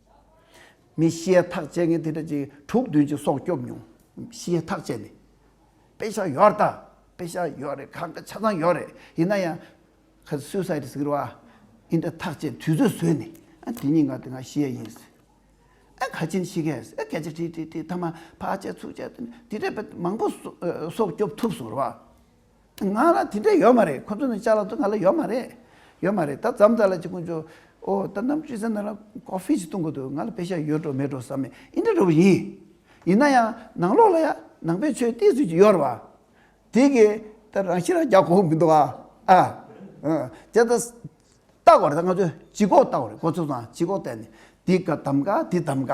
མི་ཤེས་ཐག་བཅད་མཁན་དེ་འདྲ་ཅིག་དྲུག་བདུན་ཅིག་སྲོག་སྐྱོབ་མྱོང། ཤེས་ཐག་བཅད་ནས། དཔེ་ཤག་ཡོད་ད། དཔེ་ཤག་ཡོད་རེད་ཁ་ཁ་ཆ་ཚང་ཡོད་རེད་ཡིན་ན་ཡང། ཁ་ཟས Suicide ཟེར་བ། འི་འདྲ་ཐག་བཅད་དུས་ཚོད་ཟོས་ནས། ཨ་དེ་གཉིས་ང་དེ་ང་ཤེས་ཡིན། ཨ་ཁ་ཆེན་ཤེས་ཁས། ཨ་སྐད་ཆ་ཁྲིག་ཁྲིག་ཁྲིག་ཐ་མ་ཕག་བྱས་ཚུགས་བྱས་དེ་འདྲ་བས་མང་པོ་སྲོག་སྐྱོབ་ཐུབ་ཟེར་བ། ང་ལ་དེ་འདྲ་ཡོད་མ་རེད་ཁོ་ཚོ་ནི་ལྕགས་ལ་ཐུག་ང་ལ་ཡོད་མ་རེད། ཡོད་མ་རེད་ད་ཛམ་ཛ་ལ་ཅིག་ཀུན་ཅོ་ཨོ་ད་གནམ་གཤིས་གསལ་ན་ལ Coffee ཅིག་བཏུང་གི་འདུག་ང་ལ་བེ་ཤ་ཡོད་འགྲོ་མེད་འགྲོ་བསམ་མེད་ཨི་འདྲ་འགྲོ་བ་ཡིན། ཡིན་ན་ཡང་ནང་ལོགས་ལ་ཡ་ནང་པའི་ཆོས་གཏད་ཚུལ་ཅིག་ཡོད་རེད་བ། དེ་གི་ད་རང་ཤི་རང་རྒྱག་གོ་མི་འདུག་ཨ། དེ་ད་བཏགས་བ་རེད་ད་ང་ཚོས་ཇི་ཀོག་བཏགས་བ་རེད་ཁོ་ཚོ་དང་ཇི་ཀོག་བཏགས་ནས་དེ་ག་དམ་ག་དེ་དམ་ག།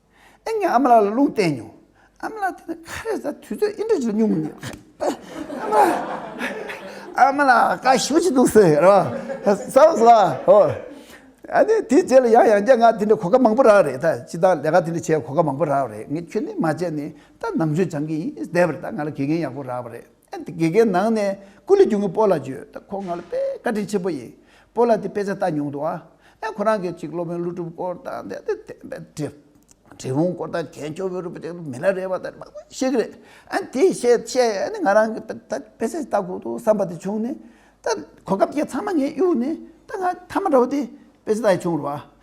ཨེ་ངས་ཨ་མ་ལགས་ལ་རླུང་བསྟན་མྱོང། ཨ་མ་ལགས་དེ་ནས་ཁ་རས་ཟ་དུས་ཚོད་ཨེ་འདྲ་བྱེད་མྱོང་ངས། ཨ་མ་ལགས་བཀའ་ཞུ་བྱེད་འདུག་ཟེར་རོ། བཟའོ་བཟའོ་ཨོ། ཨ་ནི་དེ་རྗེས་ལ་ཡང་ཡང་བརྒྱ་ང་དེ་འདྲ་གོ་སྐབས་མང་པོ་རག་རེད་ད་སྤྱི་བདག་ལས་ཀ་དེ་འདྲ་བྱས་གོ་སྐབས་མང་པོ་རག་རེད་ངས་ཁྱོད་ནི་མ་བྱས་ནས་ད་ནམ་ཞུ་སྦྱང་གི་ཡིན་བསྡད་པར་ད་ང་ལ་དགེ་རྒན་ཡག་པོ་རག་པ་རེད། དགེ་རྒན་ནང་ནས་སྐུ་ལས་རྒྱུན་གྱི་སྤོ་ལ་བརྗོད། ཁོ་ང་ལ་དཔེ་བཀའ་དྲིན་ཆེན་པོ་ཡིན། སྤོ་ལ་དེ་དཔེ་ཆ་ལྟ་མྱོང་འདུག་ཨ། ཁོ་རང་གིས་ཅིག་སློབ་དཔོན་ཀླུ་སྒྲུབ་སྐོར་དང་དེ་དེ་དེ་དེ་དེ། དྲིལ་བུང་སྐོར་དང་གན་ཅོ་བོན་རིན་པོ་ཆེ་སྐོར་མི་ལ་རས་པ་དང་མང་པོ་ཤེས་ཀྱི་རེད། ཨ་དེ་བཤད་བཤད་ང་རང་གིས་ད་ད་དཔེ་ཆ་ཞིག་ལྟ་དགོས་འདུག་བསམ་པ་དེ་བྱུང་ནས། ད་གོ་སྐབས་ཀྱི་ཚང་མ་ངས་གཡུགས་ནས་ད་ང་མཐའ་མ་འདྲ་བོ་དེ་དཔེ་ཆ་ལྟ་ཡི་བྱུང་རུང་ཨ།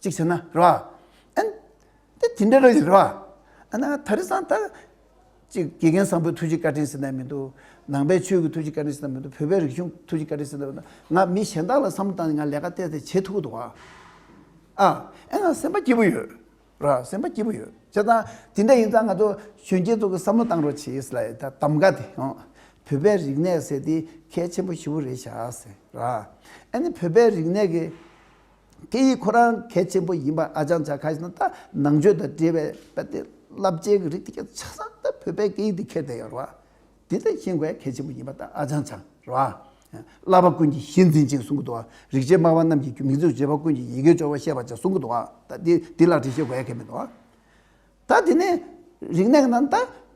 གཅིག་བྱས་ན་རེད་བ། དེ་དེ་འདྲ་རེད་ཡིན་རེད་བ། ཨ་ན་ད་རེས་ཙང་ད། གཅིག་དགེ་རྒན་བཟང་པོའི་ཐུགས་རྗེ་བཀའ་དྲིན་ཟེར་ན་མི་འདུག་ནང་པའི་ཆོས་ཀྱི་ཐུགས་རྗེ་བཀའ་དྲིན་ཟེར་ན་མི་འདུག་བོད་པའི་རིག་གཞུང་ཐུགས་རྗེ་བཀའ་དྲིན་ཟེར་ན་མི་འདུག་ང་མི་གཞན་དག་ལ་བསམ་བློ་བཏང་ནས་ང་ལས་ཀ་བལྟས་བལྟས་བྱེད་ཐུབ་ཀྱི་འདུག་ཨ། ཨེ་ང་སེམས་པ་སྐྱིད་པོ་ཡོད་རེད་བ་སེམས་པ་སྐྱིད་པོ་ཡོད་བྱས་ཙང་དེ་འདྲ་ཡིན་ཙང་ང་ཚོ་གཞོན་སྐྱེས་ཚོ་གི་བསམ་བློ་བཏང་རོགས་བྱས་ཡོད་ལ་ཡོད་ད་གདམ་ག་དེ་ཡང། བོད་པའི་རིག་གནས་ཟེར་དེ་གལ་ཆེན་པོ་ཞི་བོ་རེད་བྱས་ཨ་ཟེར་རེད་བ། ཨེ་ནི་བོད་པའི་རིག་གནས་ཀྱི། སྐད་ཡིག་ཁོ་རང་གལ་ཆེན་པོ་ཡིན་པ་ཨ་ཅང་ཇཱ་ཁཱས་ན་ད་ནང་ཆོས་དང་འབྲེལ་བའི་དཔེ་དེབ་བསླབ་བྱའི་གི་རིགས་དེ་ག་ཆ་ཚང་ད་བོད་པའི་སྐད་ཡིག་དུ་འཁྱེར་བསྡད་ཡོད་རེད་བ། དེ་ད་ཤེས་དགོས་གལ་ཆེན་པོ་ཡིན་པ་ད་ཨ་ཅང་ཇཱ་རེད་བ། བསླབ་པ་ཀུན་གྱི་གཞི་འཛིན་ཅིང་གསུང་གི་འདུག་བ། རིག་བྱེད་སྨྲ་བ་རྣམས་ཀྱིས་མིང་རྫུན་བྱེད་པ་ཀུན་གྱི་ཡི་གེའི་སྦྱོར་བ་ཤེས་པར་བྱ་གསུང་གི་འདུག་བ། ད་དེ་དེ་ལག་བྲིས་ཤེས་དགོས་ཡ་གལ་མི་འདུག་བ། ད་དེ་ནི་རིག་གནས་གི་ནང་ད་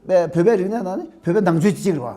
བོད་པའི་རིག་གནས་ནང་ནི་བོད་པའི་ནང་ཆོས་ཅིག་རེད་བ།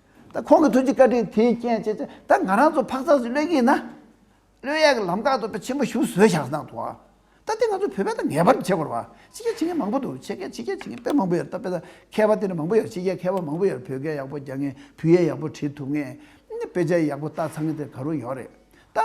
ད་ཁོང་གི་ཐུགས་ཀྱི་བཀའ་དྲིན་དེའི་རྐྱེན་བྱས་ཚེ་ད་ང་རང་ཚོ་འཕག་འཚག་སུ་སླེབས་ཀྱི་ཡིན་ན། བློས་ཡག་གི་ལམ་ཁ་ཐོབ་པའི་ཆེན་པོ་ཞུ་ཟོས་བཞག་གནང་འདུག་ཨ། ད་དེ་ང་ཚོ་བོད་པས་ད་ངེས་པར་དུ་བྱེད་དགོས་རེད་བ། ཕྱི་རྒྱལ་ཕྱི་རྒྱལ་མང་པོ་འདུག་ཕྱི་རྒྱལ་ཕྱི་རྒྱལ་ཕྱི་རྒྱལ་དཔེ་མང་པོ་ཡོད་རེད་ད་དཔེ་ད་མཁས་པ་དེ་འདྲ་མང་པོ་ཡོད་རེད་ཕྱི་རྒྱལ་མཁས་པ་མང་པོ་ཡོད་རེད་བོད་སྐད་ཡག་པོ་རྒྱག་ངེས་བོད་ཡིག་ཡག་པོ་བྲིས་ཐུབ་ངེས། དཔེ་ཆ་ཡག་པོ་བལྟ་ཚང་གི་དེ་ག་རུ་ཡོད་རེད་ད།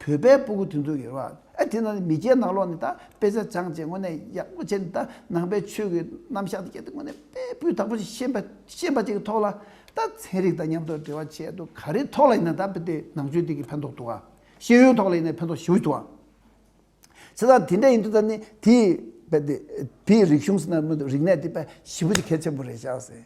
བོད་པའི་སྤུ་གུ་དེ་ཚོ་ཡོད་རེད་བ། དེ་ནང་མི་སྐྱའི་ནང་ལོགས་ནས་ད་དཔེ་བཟའ་སྦྱངས་བྱས་དངོས་གནས་ཡག་པོ་བྱས་ནས་ད་ནང་པའི་ཆོས་ཀྱི་རྣམ་གཞག་དེ་ཁྱེད་ཚོས་དངོས་གནས་དཔེ་སྤུས་དག་པོ་ཞིག་ཤེས་པ་ཤེས་པ་ཅིག་གི་ཐོག་ལ་ད་ཚན་རིག་དང་མཉམ་དུ་འབྲེལ་བ་བྱས་འདུག་ག་རེའི་ཐོག་ལ་ཡིན་ན་ད་དེ་ནང་ཆོས་དེ་གི་ཕན་ཐོགས་འདུག་ག། ཤེས་ཡོན་ཐོག་ལ་ཡིན་ན་ཕན་ཐོགས་ཞེ་བོ་འདུག་ག། བྱས་ཙང་དེ་འདྲ་ཡིན་དུས་ད་ནི་དེའི་དཔེ་དེ་དེའི་རིག་གཞུང་ཟེར་ན་མི་འདུག་རིག་གནས་དེ་དཔེ་ཞེ་བོ་ཅིག་གལ་ཆེན་པོ་རེད་བཞག་ཟེར།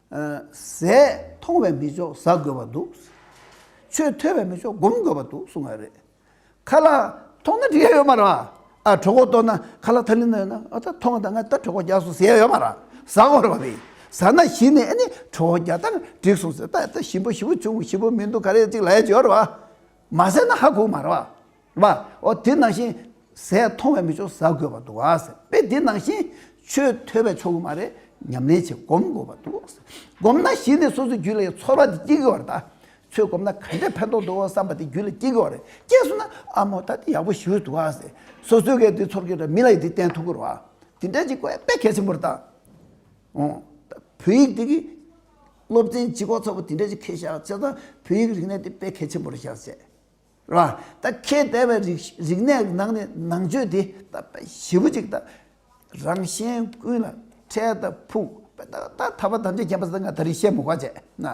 ཟས་མཐོང་བས་མི་ཆོག་ཟ་དགོས་པ་འདུག། ཆོས་ཐོས་པས་མི་ཆོག་སྒོམ་དགོས་པ་འདུག་གསུངས་པ་རེད། ཁ་ལག་མཐོང་ན་འབྲི་ཡ་ཡོད་མ་རེད། ཨ་གྲོགས་ཁོག་སྟོད་ན་ཁ་ལག་ཐ་ལི་ན་ཡོད་ན་ཨ་ད་ཐོ་ང་ད་ང་ད་གྲོགས་ཁོག་རྒྱག་སོང་ཟེར་ཡ་ཡོད་མ་རེད། ཟ་གོ་རེད་པ་རེད། ཟ་ན་གཞི་ནས་ཨ་ནི་གྲོགས་ཁོག་རྒྱག་ད་ང་འགྲིག་སོང་ཟེར་ད་ད་ཞིམ་པོ་ཞིམ་པོ་བྱུང་ཞིམ་པོ་མི་འདུག་ག་རེ་ཡོད་ཅིག་ལ་ཡོད་ཅིག་ཡོད་རེད་པ། མ་ཟས་ན་ཧ་གོ་མ་རེད་པ། བ། ཨོ་དེ་ནང་བཞིན་ཟས་མཐོང་བས་མི་ཆོག་ཟ་དགོས་པར་འདུག་ཨ། དཔེ་དེ་ནང་བཞིན་ཆོས་ཐོས་པས་ཆོག་གི་མ་རེད་ཉམས་ལེན་བྱེད་སྒོམ་དགོས་པར་འདུག་སྒོམ་ན་གཞི་ནས་སོ་སོའི་རྒྱུད་ལ་ཡང་ཚོར་བ་དེ་སྐྱེ་གི་བ་རེད་ད། ཚོས་སྒོམ་ན་ག་འདྲའི་ཕན་ཐོག་འདུག་ཨོ་བསམ་པ་དེ་རྒྱུད་ལ་སྐྱེ་གི་བ་རེད་སྐྱེས་སོང་ན་ཨ་མོ་ད་དེ་ཡག་པོ་ཞུས་འདུག་ཨ། སོ་སོའི་གས་དེ་ཚོར་གི་རེད་མི་ལ་ཡི་དེ་བསྟན་ཐུབ་གི་རོ་ཨ། དེ་འདྲ་ཅིག་དཔེ་གལ་ཆེན་པོ་རེད་ད། ཨོ། བོད་ཡིག་དེ་གི་སློབ་ཚན་སྤྱི་ཁོག་ཚ་བོ་དེ་འདྲ་ཅིག་ཁེལ་བཞག་བྱས་ཙང་བོད་ཡིག་རིག་གནས་དེ་དཔེ་གལ་ཆེན་པོ་རེད་བཞག་བྱས། རེད་བ། ད་ཁྱེད་བལྟས་པའི་རིག་རིག་གནས་ཀྱི་ནང་ནས་ནང་ཆོས་དེ་ད་ཞི་བུ་ཅིག་ད་རང་གཞན་ཀུན་ལ་འཕྲལ་ད་ཕུག་པས་ད་ད་ད་བ་དམ་བཅའ་བརྒྱབ་པ་ད་ང་ད་རིང་ཤེས་མི་དགོས་བྱས་ན་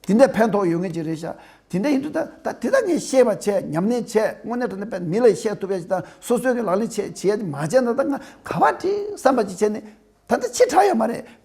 དེ་འདྲའི་ཕན་ཐོགས་ཡོད་ངེས་ཅིག་རེད་ཤག་དེ་འདྲ་ཡིན་དུས་ད་ད་དེ་དག་ངས་ཤེས་པ་བྱས་ཉམས་ལེན་བྱས་དངོས་གནས་དྲ་གནས་པས་མི་ལ་བཤད་ཐུབ་པའི་ད་སོ་སོའི་གི་ལག་ལེན་བྱས་བྱས་མ་བྱས་ན་ད་ང་ག་བ་བྲིས་བསམ་པ་ཅིག་བྱས་ནས་ད་ད་ཕྱིར་གྲགས་ཡོད་མ་རེད།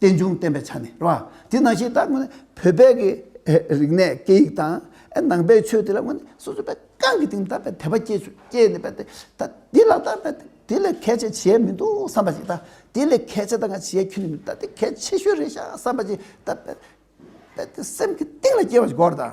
རྟེན་འབྱུང་བསྟན་པའི་ཆ་ནས་རེད་པ། དེ་ནང་བཞིན་ད་ངོས་བོད་པའི་གི་རིག་གནས་སྐད་ཡིག་དང་ནང་པའི་ཆོས་དེ་ལ་ངོས་ནས་སོ་སོ་པའི་རྐང་གི་སྟེང་ད་དཔེ་དད་པ་སྐྱེས་ཆུ་སྐྱེས་ནས་པ་ད་དེ་ལ་ད་དཔེ་དེ་ལས་གལ་ཆེ་བྱས་མི་འདུག་བསམ་པ་ཞིག་ད་དེ་ལས་གལ་ཆེ་ད་ང་བྱས་ཁྱོད་ནི་ད་དེ་གལ་ཆེ་ཤོས་རེད་ཤག་བསམ་པ་ཞིག་ད་དཔེ་དཔེ་དེ་སེམས་ཀྱི་གཏིང་ལ་སྐྱེས་པ་ཞིག་གོ་རེ་ད།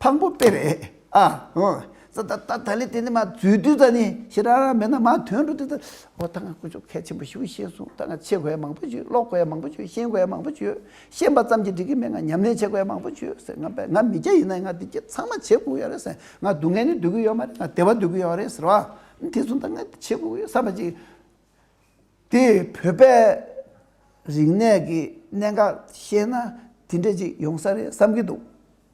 དང་པོ་དཔེ་རེད་ཨ། ད་ད་ད་ད་ལས་དེ་འདི་མ་རྫུས་རྡུལ་རྩ་ནི་ཞེ་ར་ར་མེད་ན་མ་དོན་འགྲོ་དེ་ད། འོ་ད་ང་ཀུ་ཅོ་གལ་ཆེན་པོ་ཞིག་ཨུ་ཤེས་སོང་ད་ང་ཆེ་གོ་ཡ་མང་པོ་བྱོས་ཀློག་གོ་ཡ་མང་པོ་བྱོས་ཤེས་གོ་ཡ་མང་པོ་བྱོས་ཤེས་པ་ཙམ་གྱིས་འགྲིག་གི་མེད་ང་ཉམས་ལེན་བྱེད་གོ་ཡ་མང་པོ་བྱོས་ཟེར་ང་པས་ང་མི་སྐྱ་ཡིན་ན་ང་འདི་སྐྱ་ཚང་མ་བྱེད་དགོས་ཀྱི་ཡོད་རེད་ཟེར་ང་སྡུག་བསྔལ་ནི་སྡུག་གི་ཡོད་མ་རེད་ང་བདེ་བ་སྡུག་གི་ཡོད་རེད་ཟེར་བ་ཨ་དེ་ཚོ་ད་ང་བྱེད་དགོས་ཀྱི་ཡོད་བསམ་པ་ཅིག་དེ་བོད་པའི་རིག་གནས་ཀྱི་གནད་འགག་ཤེས་ན་དེ་འདྲ་ཅིག་ཡོང་ས་རེད་བསམ་གྱི་འདུག་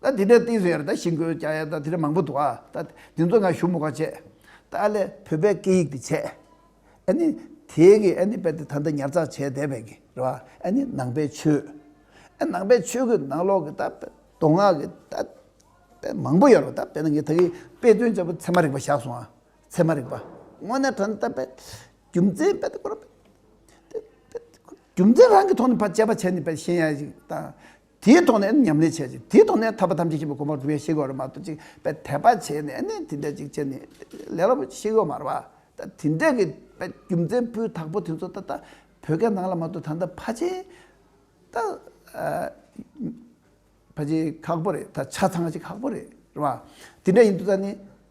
ད་དེ་འདྲའི་གཏིང་ཟེར་ཡར་ད་ཤིང་བརྐོས་བཅག་ཡར་ད་དེ་འདྲ་མང་པོ་འདུག་ཨ། ད་དེ་ཚོ་ང་ཞུ་མོ་ག་བྱེད། ད་ཨ་ལས་བོད་པའི་སྐད་ཡིག་དེ་བྱས། ཨ་ནི། དེའི་གི་ཨ་ནི་དཔེ་དེ་ད་འདི་ཉར་ཚགས་བྱས་བསྡད་པའི་གི་རེད་བ། ཨ་ནི་ནང་པའི་ཆོས། ཨ་ནང་པའི་ཆོས་གི་ནང་ལོག་གི་ད་དཔེ་མདོ་སྔགས་གི་ད། དཔེ་མང་པོ་ཡོད་རེད་བ་ད་དཔེ་ན་ངས་ད་གི་དཔེ་དོན་བྱས་པ་ཚད་མ་རིག་པ་བཞག་སོང་ཨ། ཚད་མ་རིག་པ། དངོས་གནས་དོན་ད་དཔེ། རྒྱུ་མཚན་དཔེ་དེ་སྐོར། རྒྱུ་མཚན་རང་གི་ཐོག་ནས་ཕར་དཔྱད་པ་བྱས་ནས་དཔེ་ཤེས་ཡ་ཞིག་ད། དེའི་ཐོག་ནས་ཉམས་ལེན་བྱས་ཅིང་དེའི་ཐོག་ནས་ཐར་པ་ཐམས་ཅད་ཤེས་པའི་གོ་འཕང་འགྲུབ་ཡ་ཤེས་གོ་ར་མ་ཐོབ་ཅིག་པའི་དད་པ་བྱས་ནས་དེ་འདྲ་ཅིག་བྱས་ནས་ལས་སླ་པོ་ཅིག་ཤེས་གོ་མ་ར་བ་ད་དེ་འདྲ་གི་རྒྱུ་མཚན་སྤུས་དག་པོ་དེ་ཚོ་ད་ལྟ་བོད་སྐད་ནང་ལ་མ་གཏོགས་ད་ལྟ་ཕ་ཆེ་ད་ཕ་ཆེ་ཁག་པོ་རེད་ད་ཆ་ཚང་ཞིག་ཁག་པོ་རེད་ར་བ་དེ་འདྲ་ཡིན་འདུག་ད་ནི།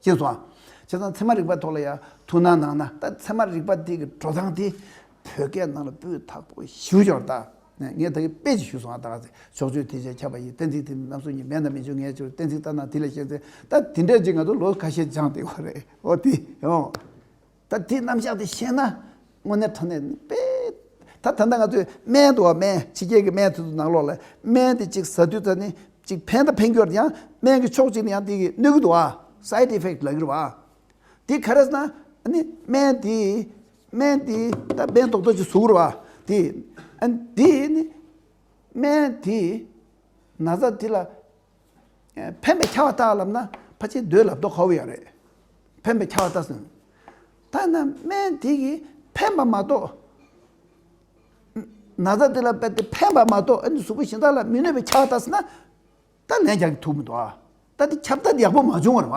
ཅེས་སོ། བྱས་ཙང་ཚད་མ་རིག་པ་ཐོག་ལ་ཡང་ཐུགས་སྣང་གནང་ན་ད་ཚད་མ་རིག་པ་དེ་གི་འགྲོ་སྟངས་དེ་བོད་སྐད་ནང་ལ་སྤུས་དག་པོ་ཞིབ་འཇོག་ད་ངས་ད་གི་དཔེ་ཅིག་ཞུས་སོང་ང་ད་ག་ཚད་ཕྱོགས་ཆོས་དེ་ཆ་ཁྱབ་པ་ཡི་གཏན་ཚིགས་དེ་ནི་ནམ་སོ་གཉིས་མེད་ན་མི་འཇུག་ངས་ཆོས་གཏན་ཚིགས་ལྟར་ན་དེ་ལས་གཞན་ཚད་ད་དེ་འདྲས་ཅིག་ང་ཚོ་ལོ་ཁ་ཤས་སྦྱངས་དེ་གོ་རེད་ཨོ་དེ་ཡང། ད་དེ་རྣམ་གཞག་དེ་ཤེས་ན་དངོས་གནས་ཁྲོ་ནད་ནི་པེ། ད་ད་ནི་ང་ཚོས་སྨན་དུ་བ་སྨན་ཕྱི་རྒྱལ་གྱི་སྨན་དེ་ཚོ་ནང་ལོགས་ལ་སྨན་དེ་གཅིག་ཟ་དུས་ད་ནི་གཅིག་ཕན་དང་ཕན་གྱོར་ཡང་སྨན་གྱི་ཕྱོགས་གཅིག་ནས་ཡང་དེ་གི་གནོད་གི་འདུག་ཨ side effect ལགས་གི་རེད་བ། དེ་ག་རེས་ན་ཨ་ནི་སྨན་དེ་སྨན་དེ་ད་སྨན་རྡོག་རྡོག་ཅིག་བཟོ་གི་རེད་བ། དེ་ཨ་ནི་དེ་ནི་སྨན་དེ་ན་ཟ་དེ་ལ་ཕན་པའི་ཆ་བ་དག་ལབ་ན་ཕ་ཆེ་འདོད་ལ་དོ་ཁ་བོ་ཡང་རེད། ཕན་པའི་ཆ་བ་ལྟ་སོང། ད་ནི་སྨན་དེ་གིས་ཕན་པ་མ་གཏོགས། ན་བཟའ་དེ་ལ་བལྟས་ཏེ་ཕན་པ་མ་གཏོགས་ཨ་ནི་གཟུགས་པོ་གཞན་དག་ལ་མི་གནོད་པའི་ཆ་བ་ལྟ་སོང་ན། ད་ལན་རྒྱག་གི་ཐུག་མི་འདུག་ཨ། ད་དེ་ཁྱབ་བདག་དེ་ཡག་པོ་མ་བྱུང་བར་བ།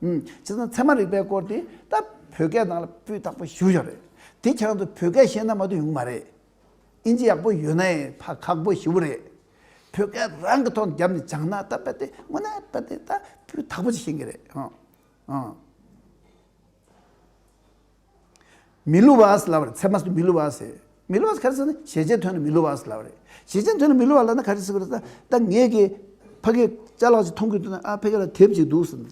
བྱས་ཙང་ཚད་མ་རིག་པའི་སྐོར་དེ་ད་བོད་སྐད་ནང་ལ་སྤུས་དག་པོ་ཞུ་བཞག་རེད། དེ་ཆ་ཚང་དུ་བོད་སྐད་ཤེས་ན་མ་གཏོགས་ཡོང་གི་མ་རེད། ཨིན་ཇི་ཡག་པོ་ཡོད་ན་ཡང་ཕ་ཁག་པོ་ཞེ་བོ་རེད། བོད་སྐད་རང་གི་ཐོག་ནས་རྒྱབ་ནས་སྦྱངས་ན་ད་དཔེ་དེ་དངོས་གནས་དཔེ་དེ་ད་སྤུས་དག་པོ་ཞིག་ཤེས་གི་རེད། མི་སླུ་བ་ཟླ་བ་རེད་ཚད་མ་སུ་མི་སླུ་བ་ཟེར། མི་སླུ་བ་ག་རེ་ཟེར་ན་གཞལ་བྱའི་དོན་ལ་མི་སླུ་བ་ཟླ་བ་རེད། གཞལ་བྱའི་དོན་ལ་མི་སླུ་བ་ལ་ན་ག་རེ་ཟེར་བ་རེད་ད་ད་ངེད་ཀྱིས་ཕ་གིའི་ལྕགས་ལག་ཅིག་མཐོང་གི་འདུག་ན་ཨ་ཕས་ཁྱེད་ལ་དེབ་ཅིག་འདུག་ཟེར་ན།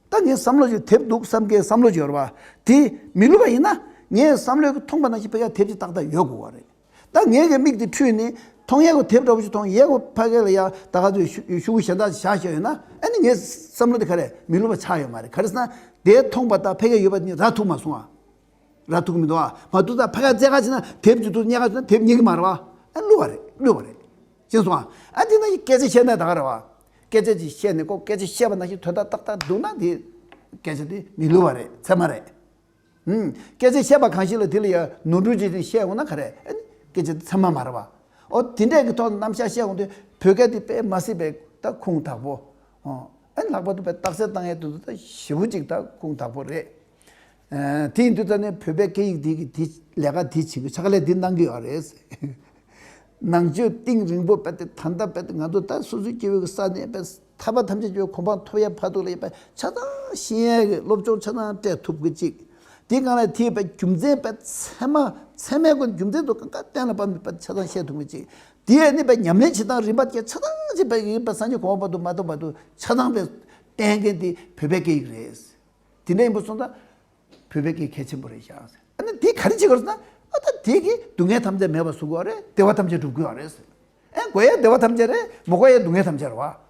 ད་ངས་བསམ་བློ་ཅིག་དེབ་འདུག་བསམ་ཁའི་བསམ་བློ་ཅིག་ཡོད་རེད་པ། དེ་མི་སླུ་བ་ཡིན་ན། ངས་བསམ་བློའི་མཐོང་པ་ན་ཞིག་ཕ་གིའི་ལ་དེབ་ཅིག་ཏག་ཏག་ཡོད་དགོས་བ་རེད། ད་ངེད་ཀྱི་མིག་དེ་འཕྲུལ་ནས་མཐོང་ཡས་ཀྱི་དེབ་འདྲ་པོ་ཞིག་མཐོང་ཡས་ཀྱི་ཕ་གས་ལ་ཡ་ད་ག་ཚོད་ཞུ་ཞུ་གི་ཞེ་འདག་ཞག་ཞིག་ཡོད་ན་ཨ་ནི་ངའི་བསམ་བློ་དེ་ག་རེ་མི་ལོ་བ་ཆགས་ཡོད་མ་རེད་ག་རེ་ཟེར་ན་དེ་མཐོང་པ་ད་ཕ་གས་ཡོད་པ་ནི་ར་ཐུག་མ་སོང་ཨ་ར་ཐུག་གི་མི་འདུག་ཨ་མ་འདུག་ད་ཕ་གས་རྩེད་ག་བྱེད་ན་དེབ་དེ་ཚོ་རྙེད་ག་བྱེད་ན་དེབ་རྙེད་ཀྱི་མ་རེད་བ་ཨ་བསླུ་བ་རེད་བསླུས་བ་རེད་ཅེས་སོང་ཨ་ཨ་དེ་ན་སྐད་ཆ་བཤད་ན་ད་ག་རེ་བ་སྐད་ཆ་ཅིག་བཤད་ནས་ཀོ་སྐད་ཆ་བཤད་པ་ན་ཞིག་དོན་དག་ཏག་ཏག་འདུག་ན་དེ་སྐད་ཆ་དེ་མི་བསླུ་བ་རེད་ཚད་མ་རེད། སྐད་ཆ་བཤད་པ་གང་ཞིག་ལ་དེ་ལ་ཡང་ནོར་འཁྲུལ་གྱིས་བཤད་འོང་ན་ག་རེ། སྐད་ཆ་དེ་ཚང་མ་མ་རེད་པ། ཨོ་དེ་འདྲས་ཀྱི་ཐོག་ནས་རྣམ་བཞག་བཤད་འོང་དུས་བོད་སྐད་དེ་དཔེ་མ་སྲིད་པའི་ད་ཁུངས་དག་པོ། ཨེ་ལྷག་པར་དུ་བོད་རྟགས་གསལ་བཏང་ཡས་དུས་འདི་ད་ཞི་བོ་ཅིག་ད་ཁུངས་དག་པོ་རེད། དེ་ཡིན་དུས་ད་ནི་བོད་པའི་སྐད་ཡིག་དེ་གི་དེ་ལས་ཀ་དེ་བྱེད་དགོས་ཕྱག་ལས་དེ་གནང་གི་ཡོད་རེད། ནང་ཆོས་གཏིང་རིང་པོ་དཔེ་དེ་ད་ལྟ་དཔེ་དེ་ང་ཚོ་ད་སོ་སོའི་སྐྱེ་བོའི་ས་ནས་དཔེ། ཐར་པ་ཐམས་ཅད་ཀྱི་གོ་འཕང་ཐོབ་ཡ་བར་དུ་ལ་ཡོད་པ་ཆ་ཚང་ཤེས་ཡན་གྱི་སློབ་སྦྱོང་ཆ་ཚང་སྤྲད་ཐུབ་དགོས་ཅིག། དེ་གང་ལ་ཐེ་བའི་རྒྱུ་མཚན་པའི་ཚད་མ་ཚད་མའི་སྒོ་ནས་རྒྱུ་མཚན་དུ་གང་ག་གཏན་ལ་དཔག་མེད་པ་ཆ་ཚང་ཤེས་ཐུབ་དགོས་ཅིག། དེ་ཡན་གནས་པའི་ཉམས་ལེན་བྱེད་སྟངས་རིམ་པ་བརྒྱད་ཆ་ཚང་བྱེད་པའི་གེགས་པ་སངས་རྒྱས་གོང་འོག་བར་དུ་མ་གཏོགས་བར་དུ་ཆ་ཚང་པའི་བསྟན་མཁན་དེ་བོད་པའི་སྐད་ཡིག་རེད། དེ་འདྲ་ཡིན་པ་སོང་ཙང་བུད་པའི་སྐད་གལ་ཆེན་པོ་རེད་བཞག་ཟེར། ཨ་ནི་དེ་ག་རེ་བྱེད་དགོས་ཟེར་ན། ཨ་ད་དེས་ཀྱིས་སྡུག་བསྔལ་ཐམས་ཅད་མེད་པར་བཟོ་དགོས་བ་རེད་བདེ་བ་ཐམས་ཅད་སྒྲུབ་དགོས་བ་རེད་ཟེར། ཨེ་དགོས་ཡ་བདེ་བ་ཐམས་ཅད་རེད་མོ་དགོས་ཡ་སྡུག་བསྔལ་ཐམས་ཅད་རེད་བ།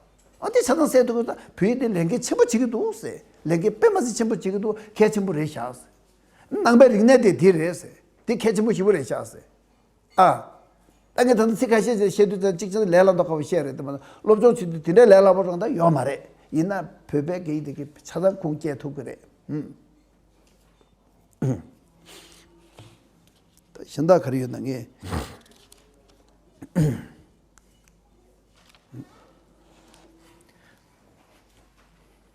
ཨ་དེ་ཆ་ཚང་སེལ་ཐུབ་དགོས་ཟེར་ན་བུ་ཡིས་དེ་ལས་འགན་ཆེན་པོ་བྱེད་ཀྱི་འདུག་ཟེར། ལས་འགན་དཔེ་མ་ཟིན་ཆེན་པོ་བྱེད་ཀྱི་འདུག་གལ་ཆེན་པོ་རེད་བཞག་ཟེར། ནང་པའི་རིག་གནས་དེ་དེ་རེད་ཟེར། དེ་གལ་ཆེན་པོ་ཞིག་པོ་རེད་བཞག་ཟེར། ཨ། ད་ངས་ད་ལྟ་ཚིག་ཁ་ཤས་བཤད་དུས་ཚང་གཅིག་ཅིག་ལས་སླ་མདོག་ཁ་བོ་བཤད་རེད་འདོད་མ་གཏོགས་སློབ་སྦྱོང་བྱེད་དུས་དེ་འདྲའི་ལས་སླ་པོ་རང་ད་ཡོད་མ་རེད་ཡིན་ན་བོད་པའི་སྐད་ཡིག་དེ་གི་ཆ་ཚང་ཁུངས་སྐྱེལ་ཐུབ་གི་རེད་ཧུམ། ད་གཞན་དག་ག་རེ་ཡོད་ན་ངས།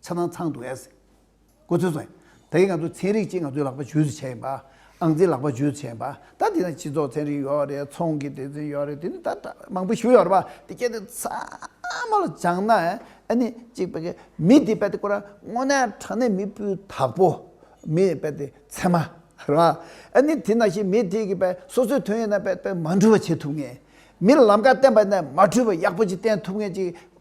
ཆ་ཚང་ཚང་འདུག་ཨེས། གོ་ཚོད་ཚང། ད་གིན་ང་ཚོ་ཚན་རིག་ཅིག་ང་ཚོའི་ལག་པ་ཇུས་སུ་བྱས་ཡིན་པ། ཨང་རྩིས་ལག་པ་ཇུས་སུ་བྱས་ཡིན་པ། ད་དེ་ན་སྤྱི་ཚོགས་ཚན་རིག་ཡོད་རེད་ཚོང་གི་སྡེ་ཚན་ཡོད་རེད་དེ་ནི་ད་ད་མང་པོ་ཞུ་ཡོད་རེད་པ། དེ་སྐད་དེ་ཚང་མ་ལ་སྦྱངས་ན་ཨ་ནི་གཅིག་པ་གིས་མི་དེ་རྦད་དེ་ཁོ་རང་དངོས་གནས་དྲང་གནས་མི་སྤུས་དག་པོ། མི་རྦད་དེ་ཚད་མ་རེད་པ། ཨ་ནི་དེ་ན་བཞིན་མི་དེ་གིས་རྦད་སོ་སོའི་དོན་ཡིན་ན་རྦད་རྦད་མ་འཁྲུལ་བ་བྱེད་ཐུབ་ངེས། མི་ལ་ལམ་ཀ་བསྟན་པ་ཡིན་ན་མ་འཁྲུལ་བ་ཡག་པོ་ཅིག་བསྟན་ཐུབ་ངེས་ཅིག་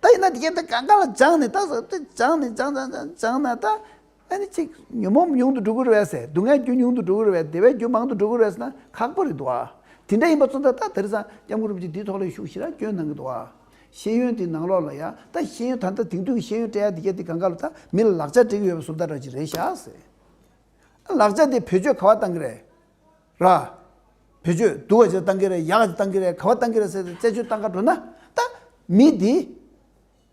ད་ཡིན་ན་དེ་ག་ད་ག་ང་ལ་སྦྱངས་ནས་ད་ཟེར་དེ་སྦྱངས་ནས་སྦྱངས་སྦྱངས་སྦྱངས་སྦྱངས་ན་ད་ཨ་ནི་ཅིག་ཉོན་མོངས་ཉུང་དུ་འགྲོ་གི་རེད་བས་ཟེར་སྡུག་བསྔལ་རྒྱུ་ཉུང་དུ་འགྲོ་གི་རེད་བས་བདེ་བའི་རྒྱུ་མང་དུ་འགྲོ་གི་རེད་ཟེར་ན་ཁག་པོ་རེད་འདུག་བ། དེ་འདྲ་ཡིན་པ་བཙོན་ད་ད་དེར་སངས་རྒྱམ་ཁུ་རུབ་ཀྱིས་འདིའི་ཐོག་ལས་ཤུགས་ཞི་རགས་སྐྱོན་གནང་གི་འདུག་བ། ཤེས་ཡོན་དེ་ནང་ལོགས་ལ་ཡ་ད་ཤེས་ཡོན་ད་ད་དེང་དུས་ཀྱི་ཤེས་ཡོན་སྤྲད་ཡ་དེ་ག་དེ་ག་ང་ལ་ད་མི་ལ་ལག་ཆ་སྤྲད་གི་ཡོད་བས་སུ་ད་ར་ཅིག་རེད་ཤག་ཟེར། ལག་ཆ་དེ་བེད་སྤྱོད་ག་བ་གཏང་གི་རེད། ར། བེད་སྤྱོད་བསྡུ་བ་ཇི་ལྟར་བཏང་གི་རེད་ཡག་ཇི་ལྟར་བཏང་གི་རེད་ག་བ་བཏང་གི་རེད་ཟེར་ཏེ་རྩད་གཅོད་བཏང་ག་འགྲོ་ན་ད་མི་དེ་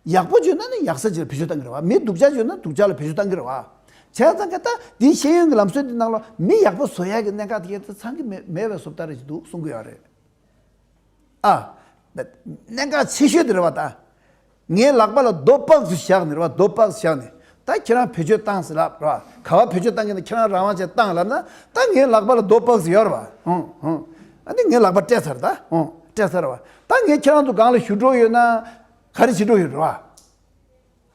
ཡག་པོ་བྱོས་ན་ནི་ཡག་ས་ཇི་ལ་བེད་སྤྱོད་བཏང་གི་རེད་བ་མི་སྡུག་ཅག་བྱོས་ན་སྡུག་ཅག་ལ་བེད་སྤྱོད་བཏང་གི་རེད་བ་བྱས་ཙང་ཀ་ད་དེའི་ཤེས་ཡོན་གྱི་ལམ་སྲོལ་དེ་ནང་ལོ་མི་ཡག་པོ་བཟོ་ཡག་གི་གནད་འགག་དེ་ཡོད་ཚེ་ཚང་གི་མེད་མེད་བའི་བཟོ་བལྟ་རེ་ཅིག་འདུག་གསུང་གི་ཡོད་རེད་ཨ། གནད་འགག་ཆེ་ཤོས་དེ་རེད་བ་ད། ངའི་ལག་པ་ལ་རྡོ་སྤགས་སུ་བཞག་ནས་རེད་བ་རྡོ་སྤགས་སུ་བཞག་ནས་ད་ཁྱེད་རང་བེད་སྤྱོད་བཏང་ཟེར་ལབ་རེད་བ་ག་བ་བེད་སྤྱོད་བཏང་གི་ན་ཁྱེད་རང་རང་དབང་ཅན་བཏང་ལབ་ན་ད་ངའི་ལག་པ་ལ་རྡོ་སྤགས་སུ་ཡོད་རེད་བ་ཧུང་ཧུང་ཨ་ནི་ངའི་ལག་པ་སྤྲད་ཚར་རེད་ད་ཧུང་སྤྲད་ཚར་རེད་བ་ད་ངས་ཁྱེད་རང་ཚོ་སྒང་ལ་བཞུད་འགྲོ་ཡོད་ན་ག་རེ་བྱེད་འགྲོ་ཡོད་རེད་བ་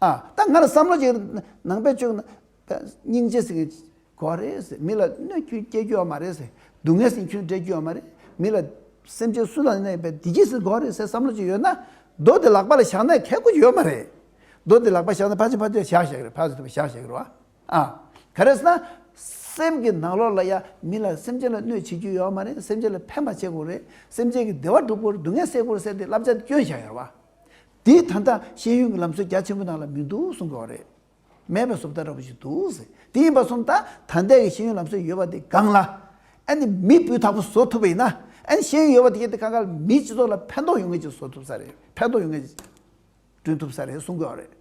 ཨ་ད་ང་ལ་བསམ་བློ་བྱེད་ནང་བེད་སྤྱོད་སྙིང་རྗེ་ཟེར་མཁན་གོ་བ་རེད། མི་ལ་གནོད་སྐྱོན་སྐྱེལ་རྒྱུ་ཡང་མ་རེད། སྡུག་བསྔལ་སེམས་ཁྱོད་སྦྲེལ་རྒྱུ་ཡང་མ་རེད། མི་ལ་སེམས་ཅན་སུ་དང་གནས་པའི་བདེ་སྐྱིད་ཟེར་གོ་བ་རེད་ཟེར་བསམ་བློ་ཅིག་ཡོད་ན། རྡོ་དེ་ལག་པ་ལ་བཞག་ན་ཁལ་ཁོ་ཅིག་ཡོད་མ་རེད། རྡོ་དེ་ལག་པ་བཞག་ན་ཕ་ཆེ་ཕ་ཐུ་ཡང་བཞག་བཞག་གི་རེད་ཕ་ཟེར་ཐུ་བ་བཞག་བཞག་གི་རེད་བ། ཨ། ག་རེ་ཟེར་ན། སེམས་ཀྱི་ནང་ལོགས་ལ་ཡང་མི་ལ་སེམས་ཅན་ལ་གནོད་བྱེད་རྒྱུ་ཡོད་མ་རེད་སེམས་ཅན་ལ་ཕན་པ་བྱེད་དགོས་རེད་སེམས་ཅན་གྱི་བདེ་བ་བསྒྲུབ་དགོས་རེད་སྡུག་བསྔལ་སེལ་དགོས་རེད་ཟེར་ཏེ་བསླབ་བྱ་དེ་བསྐྱོན་བཞག་ཡོད་རེད་བ། དེས་ད་ལྟ་ཤེས་ཡོན་གྱི་ལམ་སྲོལ་རྒྱ་ཆེན་པོ་ནང་ལ་མི་འདུག་གསུང་དགོས་བ་རེད། མེད་པའི་སོབ་ལྟ་ར་བ་ཞིག་འདུག་ཟེར་དེ་ཡིན་པ་སོམ་ད་ད་ལྟའི་གི་ཤེས་ཡོན་ལམ་སྲོལ་ཡོད་པ་དེ་སྒང་ལ་ཨ་ནི་མི་བུ་དག་པོ་བཟོ་ཐུབ་པ་ཡིན་ན་ཨ་ནི་ཤེས་ཡོན་ཡོད་པ་དེ་ག་དེ་ག་ག་ལ་མིའི་སྤྱི་ཚོགས་ལ་ཕན་ཐོག་ཡོང་མཁན་ཅིག་བཟོ་ཐུབ་ས་རེད་ཕན་ཐོག་ཡོང་མཁན་ཅིག་བསྐྲུན་ཐུབ་ས་རེད་གསུང་དགོས་རེད་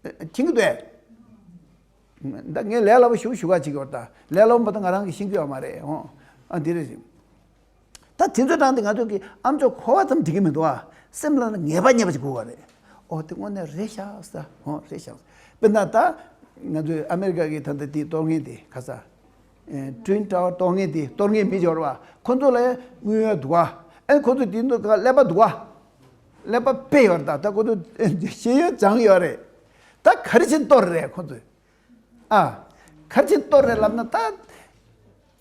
མཁྱེན་གི་འདུག་ཨེ། ངས་ལས་སླ་པོ་ཞུ་ཞུ་ག་བྱེད་ཀྱི་ཡོད་ད་ལས་སླ་པོ་མེད་ད་ང་རང་གིས་ཤེས་ཀྱི་ཡོད་མ་རེད་ཨ་འོང་ཨ་འདི་རེད། ད་དེ་ཚོའི་གྲངས་དེ་ང་ཚོ་གི་ཨ་མཆོག་འཁོར་བ་ཙམ་འགྲིག་གི་མི་འདུག་ཨ། སེམས་ལ་ངེས་པ་ཉེས་པ་ཅིག་དགོས་བ་རེད། ཨོ་དེ་དངོས་གནས་རེད་ཤག་ས་ཧོ་རེད་ཤག། དཔེར་ན་ད་ང་ཚོའི་ཨ་མེ་རི་ཀ་གི་ད་ལྟ་དེའི་གཏོར་ངན་དེ་ག་ས། Twin Tower གཏོར་ངན་དེ་གཏོར་ངན་མི་འབྱོར་བ་ཁོ་ཚོ་ལ་ཡང་དངུལ་ཡོད་འདུག་ཨ། ཨེ་ཁོ་ཚོ་དེ་ཚོ་ག་ཀླད་པ་འདུག་ཨ། ཀླད་པ་དཔེ་ཡོད་རེད་ད་ད་ཁོ་ཚོ་ཤེས་ཡོན་སྦྱངས་ཡོད་རེད། ད་ག་རེ་བྱས་གཏོར་རེད་ཁོ་ཚོས་ཨ། ག་རེ་བྱས་གཏོར་རེད་ལབ་ན་ད།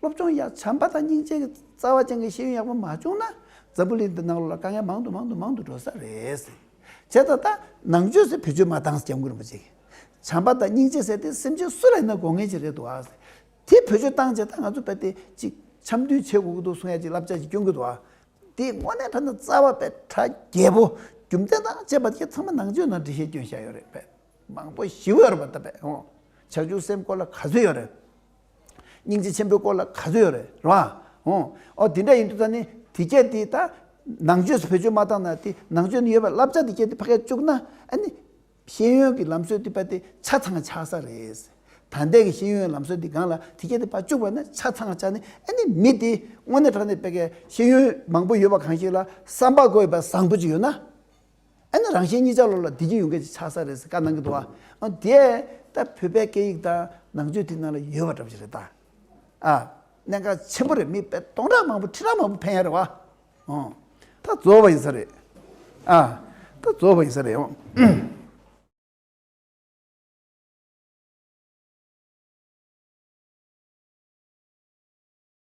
སློབ་སྦྱོང་ཡ་བྱམས་པ་དང་སྙིང་རྗེ་གི་རྩ་བ་ཅན་གི་ཤེས་ཡོན་ཡག་པོ་མ་བྱུང་ན་འཛམ་བུ་གླིང་འདི་ནང་ལོ་ལ་དཀའ་ངལ་མང་དུ་མང་དུ་མང་དུ་འགྲོ་ས་རེད། བྱས་ཙང་ད་ནང་ཆོས་སུ་བེད་སྤྱོད་མ་དང་སྐྱབས་མགོན་རིན་པོ་ཆེ་གིས་བྱམས་པ་དང་སྙིང་རྗེ་ཟེར་ཏེ་སེམས་ཅན་སུ་ལ་ཡིན་ན་དགོངས་ངེས་ཅིག་རེད་འདུག་ཨ། དེ་བེད་སྤྱོད་བཏང་བྱས་ད་ང་ཚོ་བལྟས་ཏེ་ཅིག་འཆམ་མཐུན་བྱེད་དགོས་ཀྱི་འདུག་གསུང་ཡ་ཅིག་བསླབ་བྱ་ཅིག་སྐྱོན་གྱི་འདུག་ཨ། དེའི་སྔོན་ནས་བལྟས་ན་རྩ་བ་པའི་གྲྭ་རྒྱལ་པོ་རྒྱུ་མཚན་དང་བཅས་པ་དེ་ཚང་མ་ནང་ཆོས་ནང་འབྲི་ཤེས་སྐྱོན་བཞག་ཡོད་རེད་པས་མང་པོ་ཞི་བོ་ཡོད་རེད་པ་ད་པས་ཧོ། བྱང་ཆུབ་སེམས་སྐོར་ལ་ག་ཚོད་ཡོད་རེད། སྙིང་རྗེ་ཆེན་པོའི་སྐོར་ལ་ག་ཚོད་ཡོད་རེད་རེད་བ། འོ་འོ་དེ་འདྲ་ཡིན་དུས་ད་ནི་དེ་སྐད་དེ་ད་ནང་ཆོས་སུ་བེད་སྤྱོད་མ་བཏང་ན་དེ་ནང་ཆོས་ནི་ཡོད་པ་བསླབ་བྱ་དེ་སྐད་དེ་ཕ་གས་བཅུག་ན་ཨ་ནི་ཤེས་ཡོན་གྱི་ལམ་སྲོལ་དེ་པ་དེ་ཆ་ཚང་ཆགས་ས་རེད། ད་ལྟའི་གི་ཤེས་ཡོན་ལམ་སྲོལ་དེ་སྒང་ལ་དེ་སྐད་དེ་པ་བཅུག་པ་ན་ཆ་ཚང་ཆགས་ནི་ཨ་ནི་མི་དེ་དངོས་གནས་དྲང་གནས་པ་གས་ཤེས་ཡོན་མང་པོ་ཡོད་པ་གང་ཞིག་ལ་བསམ་པ་དགོས་པ་བཟང་པོ་ཅིག་ཡོད་ན། ཨེ་ན་རང་བཞིན་གཉིས་ཆ་ལོག་ལ་བདེ་སྐྱིད་ཡོང་མཁན་ཞིག་ཆགས་ས་རེད་ཟེར་ཀ་གནང་གི་འདུག་ཨ། དེས་ད་བོད་པའི་སྐད་ཡིག་དང་ནང་ཆོས་དེ་ནང་ལ་ཡོད་པ་འདྲ་པོ་ཞིག་རེད་ད། ཨ། གནད་འགག་ཆེན་པོ་རེད་མི་དཔེ་སྟོང་ཕྲག་མང་པོ་ཁྲི་ཕྲག་མང་པོ་ཕན་ཡ་རེད་བ། ཨོ། ད་རྫོགས་པ་ཡིན་ས་རེད། ཨ། ད་རྫོགས་པ་ཡིན་ས་རེད་ཨོ།